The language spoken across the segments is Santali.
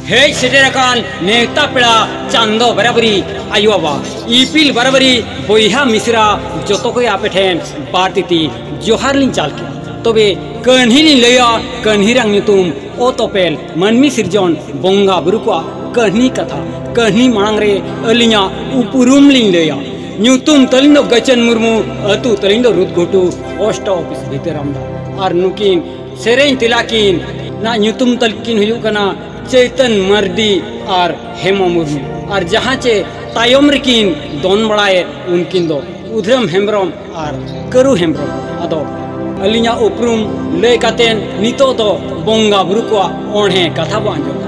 ᱦᱮᱡ ᱥᱮᱴᱮᱨ ᱟᱠᱟᱱ ᱱᱮᱣᱛᱟ ᱯᱮᱲᱟ ᱪᱟᱸᱫᱚ ᱵᱟᱨᱟᱵᱟᱨᱤ ᱟᱭᱳ ᱵᱟᱵᱟ ᱤᱯᱤᱞ ᱵᱟᱨᱟᱵᱟᱨᱤ ᱵᱚᱭᱦᱟ ᱢᱤᱥᱨᱟ ᱡᱚᱛᱚ ᱠᱚᱜᱮ ᱟᱯᱮ ᱴᱷᱮᱱ ᱵᱟᱨ ᱛᱤᱛᱤ ᱡᱚᱦᱟᱨ ᱞᱤᱧ ᱪᱟᱞ ᱠᱮᱫᱟ ᱛᱚᱵᱮ ᱠᱟᱹᱦᱱᱤ ᱞᱤᱧ ᱞᱟᱹᱭᱟ ᱠᱟᱹᱦᱱᱤ ᱨᱮᱭᱟᱜ ᱧᱩᱛᱩᱢ ᱚᱛ ᱚᱯᱮᱞ ᱢᱟᱹᱱᱢᱤ ᱥᱤᱨᱡᱚᱱ ᱵᱚᱸᱜᱟ ᱵᱩᱨᱩ ᱠᱚᱣᱟᱜ ᱠᱟᱹᱦᱱᱤ ᱠᱟᱛᱷᱟ ᱠᱟᱹᱦᱱᱤ ᱢᱟᱲᱟᱝ ᱨᱮ ᱟᱹᱞᱤᱧᱟᱜ ᱩᱯᱨᱩᱢ ᱞᱤᱧ ᱞᱟᱹᱭᱟ ᱧᱩᱛᱩᱢ ᱛᱟᱹᱞᱤᱧ ᱫᱚ ᱜᱟᱪᱟᱱ ᱢᱩᱨᱢᱩ ᱟᱹᱛᱩ ᱛᱟᱹᱞᱤᱧ ᱫᱚ ᱨᱩᱫᱽᱜᱷᱩᱴᱩ ᱯᱳᱥᱴ ᱚᱯᱷᱤᱥ ᱵᱷᱤᱛᱟᱹᱨᱟᱢᱰᱟ ᱟᱨ ᱱᱩᱠᱤᱱ ᱥᱮᱨᱮᱧ ᱛᱮᱞᱟ ᱠᱤᱱ ᱱᱟᱜ ᱧᱩᱛᱩᱢ ᱛᱟᱹᱞᱠᱤᱱ ᱦᱩᱭᱩᱜ ᱠᱟᱱᱟ ᱪᱟᱹᱭᱛᱟᱹᱱ ᱢᱟᱨᱰᱤ ᱟᱨ ᱦᱮᱢᱟ ᱢᱩᱨᱢᱩ ᱟᱨ ᱡᱟᱦᱟᱸ ᱪᱮ ᱛᱟᱭᱚᱢ ᱨᱮᱠᱤᱱ ᱫᱚᱱ ᱵᱟᱲᱟᱭᱮᱫ ᱩᱱᱠᱤᱱ ᱫᱚ ᱩᱫᱷᱟᱹᱢ ᱦᱮᱢᱵᱨᱚᱢ ᱟᱨ ᱠᱟᱹᱨᱩ ᱦᱮᱢᱵᱨᱚᱢ ᱟᱫᱚ ᱟᱹᱞᱤᱧᱟᱜ ᱩᱯᱨᱩᱢ ᱞᱟᱹᱭ ᱠᱟᱛᱮᱫ ᱱᱤᱛᱚᱜ ᱫᱚ ᱵᱚᱸᱜᱟ ᱵᱩᱨᱩ ᱠᱚᱣᱟᱜ ᱚᱬᱦᱮ ᱠᱟᱛᱷᱟ ᱵᱚᱱ ᱟᱸᱡᱚᱢᱟ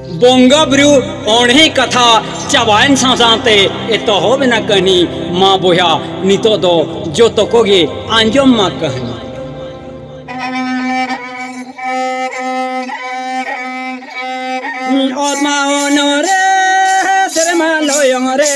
ᱵᱚᱸᱜᱟ ᱵᱩᱨᱩ ᱚᱬᱦᱮ ᱠᱟᱛᱷᱟ ᱪᱟᱵᱟᱭᱮᱱ ᱥᱟᱶ ᱥᱟᱶᱛᱮ ᱮᱛᱚᱦᱚᱵ ᱮᱱᱟ ᱠᱟᱹᱦᱱᱤ ᱢᱟ ᱵᱚᱭᱦᱟ ᱱᱤᱛᱚᱜ ᱫᱚ ᱡᱚᱛᱚ ᱠᱚᱜᱮ ᱟᱸᱡᱚᱢ ᱢᱟ ᱠᱟᱹᱦᱱᱤ ᱚᱛ ᱢᱟ ᱚᱱᱚᱨᱮ ᱥᱮᱨᱢᱟ ᱞᱚᱭᱚᱝ ᱨᱮ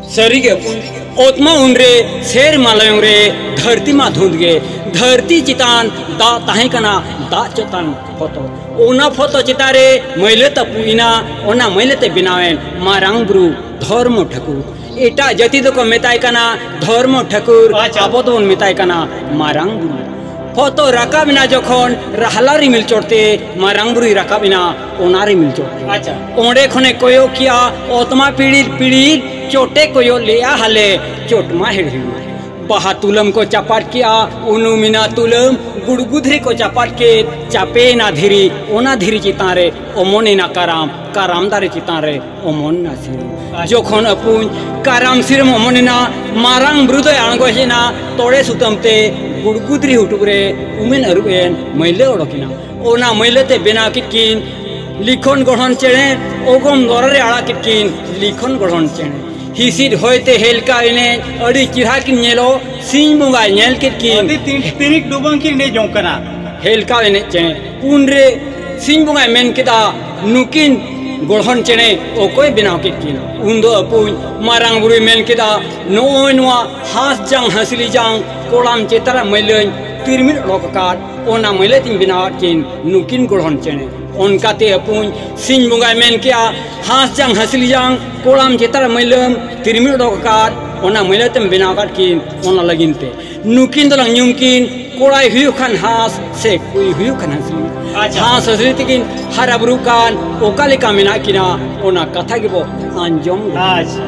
ᱥᱟᱹᱨᱤᱜᱮ ᱚᱛᱢᱟ ᱩᱱᱨᱮ ᱥᱮᱨᱢᱟ ᱞᱟᱭᱚᱝ ᱨᱮ ᱫᱷᱟᱹᱨᱛᱤ ᱢᱟ ᱫᱷᱩᱸᱫ ᱜᱮ ᱫᱷᱟᱹᱨᱛᱤ ᱪᱮᱛᱟᱱ ᱫᱟᱜ ᱛᱟᱦᱮᱸ ᱠᱟᱱᱟ ᱫᱟᱜ ᱪᱮᱛᱟᱱ ᱯᱷᱚᱛᱚ ᱚᱱᱟ ᱯᱷᱚᱛᱚ ᱪᱮᱛᱟᱱ ᱨᱮ ᱢᱟᱹᱭᱞᱟᱹ ᱛᱟᱹᱯᱩᱭᱮᱱᱟ ᱚᱱᱟ ᱢᱟᱹᱭᱞᱟᱹ ᱛᱮ ᱵᱮᱱᱟᱣᱮᱱ ᱢᱟᱨᱟᱝ ᱵᱩᱨᱩ ᱫᱷᱚᱨᱢᱚ ᱴᱷᱟᱹᱠᱩᱨ ᱮᱴᱟᱜ ᱡᱟᱹᱛᱤ ᱫᱚᱠᱚ ᱢᱮᱛᱟᱭ ᱠᱟᱱᱟ ᱫᱷᱚᱨᱢᱚ ᱴᱷᱟᱹᱠᱩᱨ ᱟᱵᱚ ᱫᱚᱵᱚᱱ ᱢᱮᱛᱟᱭ ᱠᱟᱱᱟ ᱢᱟᱨᱟᱝ ᱵᱩᱨᱩ ᱯᱷᱚᱛᱚ ᱨᱟᱠᱟᱵ ᱮᱱᱟ ᱡᱚᱠᱷᱚᱱ ᱨᱟᱦᱞᱟ ᱨᱤᱢᱤᱞ ᱪᱚᱴᱛᱮ ᱢᱟᱨᱟᱝ ᱵᱩᱨᱩᱭ ᱨᱟᱠᱟᱵ ᱮᱱᱟ ᱚᱱᱟ ᱨᱮ ᱢᱤᱞ ᱪᱚᱴ ᱟᱪᱪᱷᱟ ᱚᱸᱰᱮ ᱠᱷᱚᱱᱮ ᱠᱚᱭᱚᱜ ᱠᱮᱜᱼᱟ ᱚᱛᱢᱟ ᱯᱤᱲᱤᱨ ᱯᱤᱲᱤᱨ ᱪᱚᱴᱮ ᱠᱚᱭᱚᱜ ᱞᱮᱜᱼᱟ ᱦᱟᱞᱮ ᱪᱚᱴ ᱢᱟ ᱦᱮᱲᱦᱮᱲ ᱵᱟᱦᱟ ᱛᱩᱞᱟᱹᱢ ᱠᱚ ᱪᱟᱯᱟᱫ ᱠᱮᱜᱼᱟ ᱩᱱᱩ ᱢᱮᱱᱟ ᱛᱩᱞᱟᱹᱢ ᱜᱩᱲᱜᱩ ᱫᱷᱤᱨᱤ ᱠᱚ ᱪᱟᱯᱟᱫ ᱠᱮᱫ ᱪᱟᱯᱮᱭᱮᱱᱟ ᱫᱷᱤᱨᱤ ᱚᱱᱟ ᱫᱷᱤᱨᱤ ᱪᱮᱛᱟᱱ ᱨᱮ ᱚᱢᱚᱱᱮᱱᱟ ᱠᱟᱨᱟᱢ ᱠᱟᱨᱟᱢ ᱫᱟᱨᱮ ᱪᱮᱛᱟᱱ ᱨᱮ ᱚᱢᱚᱱᱮᱱᱟ ᱥᱤᱨᱚᱢ ᱡᱚᱠᱷᱚᱱ ᱟᱹᱯᱩᱧ ᱠᱟᱨᱟᱢ ᱥᱤᱨᱚᱢ ᱚᱢᱚᱱᱮᱱᱟ ᱢᱟᱨᱟᱝ ᱵᱩᱨᱩ ᱫᱚᱭ ᱟᱬᱜᱚ ᱦᱮᱡ ᱮᱱᱟ ᱛᱚᱲᱮ ᱥᱩᱛᱟᱹᱢ ᱛᱮ ᱜᱩᱲᱜᱩ ᱫᱷᱤᱨᱤ ᱦᱩᱴᱩᱜ ᱨᱮ ᱩᱢᱮᱱ ᱟᱹᱨᱩᱵ ᱮᱱ ᱢᱟᱹᱭᱞᱟᱹ ᱚᱰᱚᱠᱮᱱᱟ ᱚᱱᱟ ᱢᱟᱹᱭᱞᱟᱹ ᱛᱮ ᱵᱮᱱᱟᱣ ᱠᱮᱫ ᱠᱤᱱ ᱞᱤᱠᱷᱚᱱ ᱜᱚᱲᱦᱚᱱ ᱪᱮᱬᱮ ᱚᱜᱚᱢ ᱫᱚᱨᱟ ᱨᱮ ᱟᱲᱟᱜ ᱠᱮᱫ ᱠᱤᱱ ᱞᱤᱠᱷᱚᱱ ᱜᱚᱲᱦᱚᱱ ᱪᱮᱬᱮ ᱦᱤᱥᱤᱫ ᱦᱚᱭ ᱛᱮ ᱦᱮᱞᱠᱟᱣ ᱮᱱᱮᱡ ᱟᱹᱰᱤ ᱪᱮᱦᱨᱟ ᱠᱤᱱ ᱧᱮᱞᱚᱜ ᱥᱤᱧ ᱵᱚᱸᱜᱟᱭ ᱧᱮᱞ ᱠᱮᱫ ᱠᱤᱱ ᱟᱹᱰᱤ ᱛᱤᱱ ᱛᱤᱱᱤᱠ ᱰᱩᱵᱟᱹᱝ ᱠᱤᱱ ᱮᱱᱮᱡ ᱡᱚᱝ ᱠᱟᱱᱟ ᱦᱮᱞᱠᱟᱣ ᱮᱱᱮᱡ ᱪᱮᱬᱮ ᱩᱱᱨᱮ ᱥᱤᱧ ᱵᱚᱸᱜᱟᱭ ᱢᱮᱱ ᱠᱮᱫᱟ ᱱᱩᱠᱤᱱ ᱜᱚᱲᱦᱚᱱ ᱪᱮᱬᱮ ᱚᱠᱚᱭ ᱵᱮᱱᱟᱣ ᱠᱮᱫ ᱠᱤᱱ ᱩᱱᱫᱚ ᱟᱹᱯᱩᱧ ᱢᱟᱨᱟᱝ ᱵᱩᱨᱩᱭ ᱢᱮᱱ ᱠᱮᱫᱟ ᱱᱚᱜᱼᱚᱭ ᱱᱚᱣᱟ ᱦᱟᱸᱥ ᱡᱟᱝ ᱦᱟᱸᱥᱞᱤ ᱡᱟᱝ ᱠᱚᱲᱟᱢ ᱪᱮᱛᱟᱱ ᱨᱮ ᱢᱟᱹᱭᱞᱟᱹᱧ ᱛᱤᱨᱢᱤᱫ ᱚᱰᱚᱠ ᱟᱠᱟᱫ ᱚᱱᱟ ᱢᱟᱹᱭᱞᱟᱹ ᱛᱤᱧ ᱵᱮᱱᱟᱣᱟᱫ ᱠᱤᱱ ᱱᱩᱠᱤᱱ ᱜᱚᱲᱦᱚᱱ ᱪᱮᱬᱮ ᱚᱱᱠᱟᱛᱮ ᱟᱹᱯᱩᱧ ᱥᱤᱧ ᱵᱚᱸᱜᱟᱭ ᱢᱮᱱ ᱠᱮᱜᱼᱟ ᱦᱟᱸᱥ ᱡᱟᱝ ᱦᱟᱹᱥᱞᱤ ᱡᱟᱝ ᱠᱚᱲᱟᱢ ᱪᱮᱛᱟᱱ ᱨᱮ ᱢᱟᱹᱭᱞᱟᱹᱢ ᱛᱤᱨᱢᱤ ᱚᱰᱚᱠ ᱟᱠᱟᱫ ᱚᱱᱟ ᱢᱟᱹᱭᱞᱟᱹ ᱛᱮᱢ ᱵᱮᱱᱟᱣ ᱟᱠᱟᱫ ᱠᱤᱱ ᱚᱱᱟ ᱞᱟᱹᱜᱤᱫ ᱛᱮ ᱱᱩᱠᱤᱱ ᱫᱚᱞᱟᱝ ᱧᱩᱢ ᱠᱤᱱ ᱠᱚᱲᱟᱭ ᱦᱩᱭᱩᱜ ᱠᱷᱟᱱ ᱦᱟᱸᱥ ᱥᱮ ᱠᱩᱲᱤ ᱦᱩᱭᱩᱜ ᱠᱷᱟᱱ ᱦᱟᱹᱥᱞᱤ ᱦᱟᱸᱥ ᱦᱟᱹᱥᱞᱤ ᱛᱮᱠᱤᱱ ᱦᱟᱨᱟ ᱵᱩᱨᱩᱜ ᱠᱟᱱ ᱚᱠᱟ ᱞᱮᱠᱟ ᱢᱮᱱᱟᱜ ᱠᱤᱱᱟ ᱚᱱᱟ ᱠᱟᱛᱷᱟ ᱜᱮᱵᱚ ᱟᱸᱡᱚᱢ ᱟᱪᱪᱷᱟ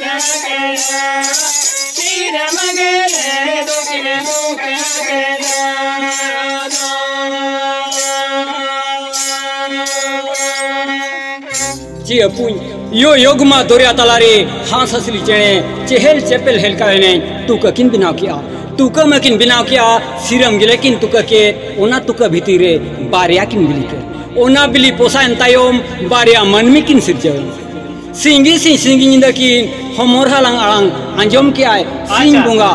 ᱪᱮ ᱟᱹᱯᱩᱧ ᱤᱭᱚ ᱭᱚᱜᱽᱢᱟ ᱫᱚᱨᱭᱟ ᱛᱟᱞᱟᱨᱮ ᱦᱟᱸᱥ ᱦᱟᱹᱥᱞᱤ ᱪᱮᱬᱮ ᱪᱮᱦᱮᱞ ᱪᱮᱯᱮᱞ ᱦᱮᱞᱠᱟ ᱮᱱᱮᱡ ᱛᱩᱠᱟᱹ ᱠᱤᱱ ᱵᱮᱱᱟᱣ ᱠᱮᱜᱼᱟ ᱛᱩᱠᱟᱹ ᱢᱟᱹᱠᱤᱱ ᱵᱮᱱᱟᱣ ᱠᱮᱜᱼᱟ ᱥᱤᱨᱟᱹᱢ ᱜᱮᱞᱮ ᱠᱤᱱ ᱛᱩᱠᱟᱹ ᱠᱮᱫ ᱚᱱᱟ ᱛᱩᱠᱟᱹ ᱵᱷᱤᱛᱤᱨ ᱨᱮ ᱵᱟᱨᱭᱟ ᱠᱤᱱ ᱵᱤᱞᱤ ᱠᱮᱫ ᱚᱱᱟ ᱵᱤᱞᱤ ᱯᱚᱥᱟᱭᱮᱱ ᱛᱟᱭᱚᱢ ᱵᱟᱨᱭᱟ ᱢᱟᱹᱱᱢᱤ ᱠᱤᱱ ᱥᱤᱨᱡᱟᱹᱣ ᱮᱱᱟ ᱥᱤᱝᱜᱤ ᱥᱤᱝ ᱥᱤᱝᱜᱤ ᱧᱤᱫᱟᱹ ᱠᱤᱱ ᱦᱚᱢᱚᱨ ᱦᱟᱞᱟᱝ ᱟᱲᱟᱝ ᱟᱸᱡᱚᱢ ᱠᱮᱜᱼᱟᱭ ᱥᱤᱧ ᱵᱚᱸᱜᱟ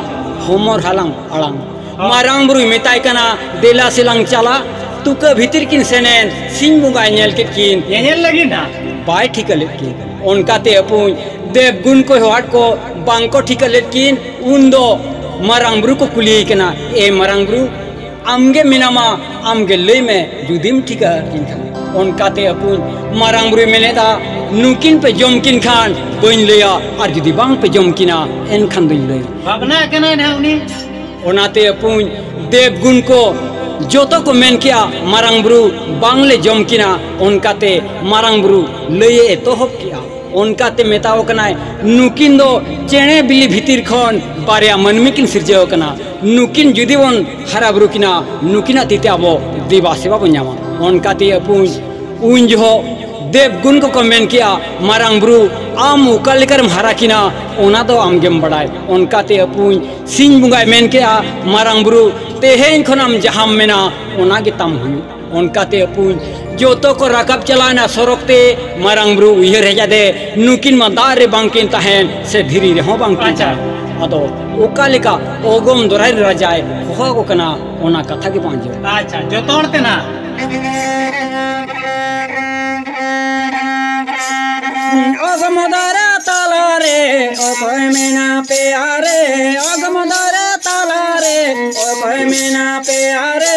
ᱦᱚᱢᱚᱨ ᱦᱟᱞᱟᱝ ᱟᱲᱟᱝ ᱢᱟᱨᱟᱝ ᱵᱩᱨᱩᱭ ᱢᱮᱛᱟᱭ ᱠᱟᱱᱟ ᱫᱮᱞᱟ ᱥᱮᱞᱟᱝ ᱪᱟᱞᱟᱜ ᱛᱩᱠᱟᱹ ᱵᱷᱤᱛᱤᱨ ᱠᱤᱱ ᱥᱮᱱᱮᱱ ᱥᱤᱧ ᱵᱚᱸᱜᱟᱭ ᱧᱮᱞ ᱠᱮᱫ ᱠᱤᱱ ᱧᱮᱧᱮᱞ ᱞᱟᱹᱜᱤᱫ ᱱᱟ ᱵᱟᱭ ᱴᱷᱤᱠᱟᱹ ᱞᱮᱫ ᱠᱤᱱ ᱚᱱᱠᱟᱛᱮ ᱟᱹᱯᱩᱧ ᱫᱮᱵ ᱜᱩᱱ ᱠᱚ ᱦᱚᱦᱟᱫ ᱠᱚ ᱵᱟᱝ ᱠᱚ ᱴᱷᱤᱠᱟᱹ ᱞᱮᱫ ᱠᱤᱱ ᱩᱱ ᱫᱚ ᱢᱟᱨᱟᱝ ᱵᱩᱨᱩ ᱠᱚ ᱠᱩᱞᱤᱭᱮ ᱠᱟᱱᱟ ᱮ ᱢᱟᱨᱟᱝ ᱵᱩᱨᱩ ᱟᱢᱜᱮ ᱢᱮᱱᱟᱢᱟ ᱟᱢᱜᱮ ᱞᱟᱹᱭ ᱢᱮ ᱡᱩᱫᱤᱢ ᱴᱷᱤᱠᱟᱹ ᱟᱹᱠᱤᱱ ᱠᱷᱟᱱ ᱚᱱᱠᱟᱛᱮ ᱟᱹᱠᱩᱧ ᱢᱟᱨᱟᱝ ᱵᱩᱨᱩᱭ ᱢᱮᱱᱮᱫᱟ ᱱᱩᱠᱤᱱ ᱯᱮ ᱡᱚᱢ ᱠᱤᱱ ᱠᱷᱟᱱ ᱵᱟᱹᱧ ᱞᱟᱹᱭᱟ ᱟᱨ ᱡᱩᱫᱤ ᱵᱟᱝ ᱯᱮ ᱡᱚᱢ ᱠᱤᱱᱟ ᱮᱱᱠᱷᱟᱱ ᱫᱚᱧ ᱞᱟᱹᱭ ᱵᱷᱟᱵᱽᱱᱟ ᱠᱟᱱᱟᱭ ᱱᱟᱦᱟᱜ ᱩᱱᱤ ᱚᱱᱟᱛᱮ ᱟᱹᱯᱩᱧ ᱫᱮᱵ ᱜᱩᱱ ᱠᱚ ᱡᱚᱛᱚ ᱠᱚ ᱢᱮᱱ ᱠᱮᱜᱼᱟ ᱢᱟᱨᱟᱝ ᱵᱩᱨᱩ ᱵᱟᱝᱞᱮ ᱡᱚᱢ ᱠᱤᱱᱟ ᱚᱱᱠᱟᱛᱮ ᱢᱟᱨᱟᱝ ᱵᱩᱨᱩ ᱞᱟᱹᱭᱮ ᱮᱛᱚᱦᱚᱵ ᱠᱮᱜᱼᱟ ᱚᱱᱠᱟᱛᱮ ᱢᱮᱛᱟᱣ ᱠᱟᱱᱟᱭ ᱱᱩᱠᱤᱱ ᱫᱚ ᱪᱮᱬᱮ ᱵᱤᱞᱤ ᱵᱷᱤᱛᱤᱨ ᱠᱷᱚᱱ ᱵᱟᱨᱭᱟ ᱢᱟᱹᱱᱢᱤ ᱠᱤᱱ ᱥᱤᱨᱡᱟᱹᱣ ᱠᱟᱱᱟ ᱱᱩᱠᱤᱱ ᱡᱩᱫᱤ ᱵᱚᱱ ᱦᱟᱨᱟ ᱵᱩᱨᱩ ᱠᱤᱱᱟ ᱱᱩᱠᱤᱱᱟᱜ ᱛᱤᱛᱮ ᱟᱵᱚ ᱫᱮᱵᱟ ᱥᱮᱵᱟ ᱵᱚᱱ ᱧᱟᱢᱟ ᱚᱱᱠᱟᱛᱮ ᱟᱹᱯᱩᱧ ᱩᱱ ᱡᱚᱦᱚᱜ ᱫᱮᱵ ᱜᱩᱱ ᱠᱚᱠᱚ ᱢᱮᱱ ᱠᱮᱜᱼᱟ ᱢᱟᱨᱟᱝ ᱵᱩᱨᱩ ᱟᱢ ᱚᱠᱟ ᱞᱮᱠᱟᱨᱮᱢ ᱦᱟᱨᱟ ᱠᱤᱱᱟ ᱚᱱᱟ ᱫᱚ ᱟᱢ ᱜᱮᱢ ᱵᱟᱰᱟᱭ ᱚᱱᱠᱟᱛᱮ ᱟᱹᱯᱩᱧ ᱥᱤᱧ ᱵᱚᱸᱜᱟᱭ ᱢᱮᱱ ᱠᱮᱜᱼᱟ ᱢᱟᱨᱟᱝ ᱵᱩᱨᱩ ᱛᱮᱦᱮᱧ ᱠᱷᱚᱱ ᱟᱢ ᱡᱟᱦᱟᱸᱢ ᱢᱮᱱᱟ ᱚᱱᱟ ᱜᱮᱛᱟᱢ ᱦᱩᱭᱩᱜᱼᱟ ᱚᱱᱠᱟᱛᱮ ᱟᱹᱯᱩᱧ ᱡᱚᱛᱚ ᱠᱚ ᱨᱟᱠᱟᱵ ᱪᱟᱞᱟᱣᱮᱱᱟ ᱥᱚᱨᱚᱜ ᱛᱮ ᱢᱟᱨᱟᱝ ᱵᱩᱨᱩ ᱩᱭᱦᱟᱹᱨ ᱦᱮᱡ ᱟᱫᱮ ᱱᱩᱠᱤᱱ ᱢᱟ ᱫᱟᱜ ᱨᱮ ᱵᱟᱝᱠᱤᱱ ᱛᱟᱦᱮᱱ ᱥᱮ ᱫᱷᱤᱨᱤ ᱨᱮᱦᱚᱸ ᱵᱟᱝᱠᱤᱱ ᱛᱟᱦᱮᱱ ᱟᱫᱚ ᱚᱠᱟ ᱞᱮᱠᱟ ᱚᱜᱚᱢ ᱫᱚᱨᱟᱭ ᱨᱮ ᱨᱟᱡᱟᱭ ᱦᱚᱦᱚ ᱟᱠᱚ ᱠᱟᱱᱟ ᱚᱱᱟ ᱠᱟᱛᱷᱟ ᱜᱮ ᱵᱟᱝ ᱟᱸᱡᱚᱢ ᱟᱪᱪᱷᱟ ᱡᱚᱛᱚ ᱦᱚᱲ ᱛᱮ ᱱᱟ ᱚᱜᱚᱢ ᱫᱚᱨᱟ ᱛᱟᱞᱟ ᱨᱮ ᱚᱠᱚᱭ ᱢᱮᱱᱟ ᱯᱮᱭᱟ ᱨᱮ ᱚᱜᱚᱢ ᱫᱚᱨᱟ ᱛᱟᱞᱟ ᱨᱮ ᱚᱠᱚᱭ ᱢᱮᱱᱟ ᱯᱮᱭᱟ ᱨᱮ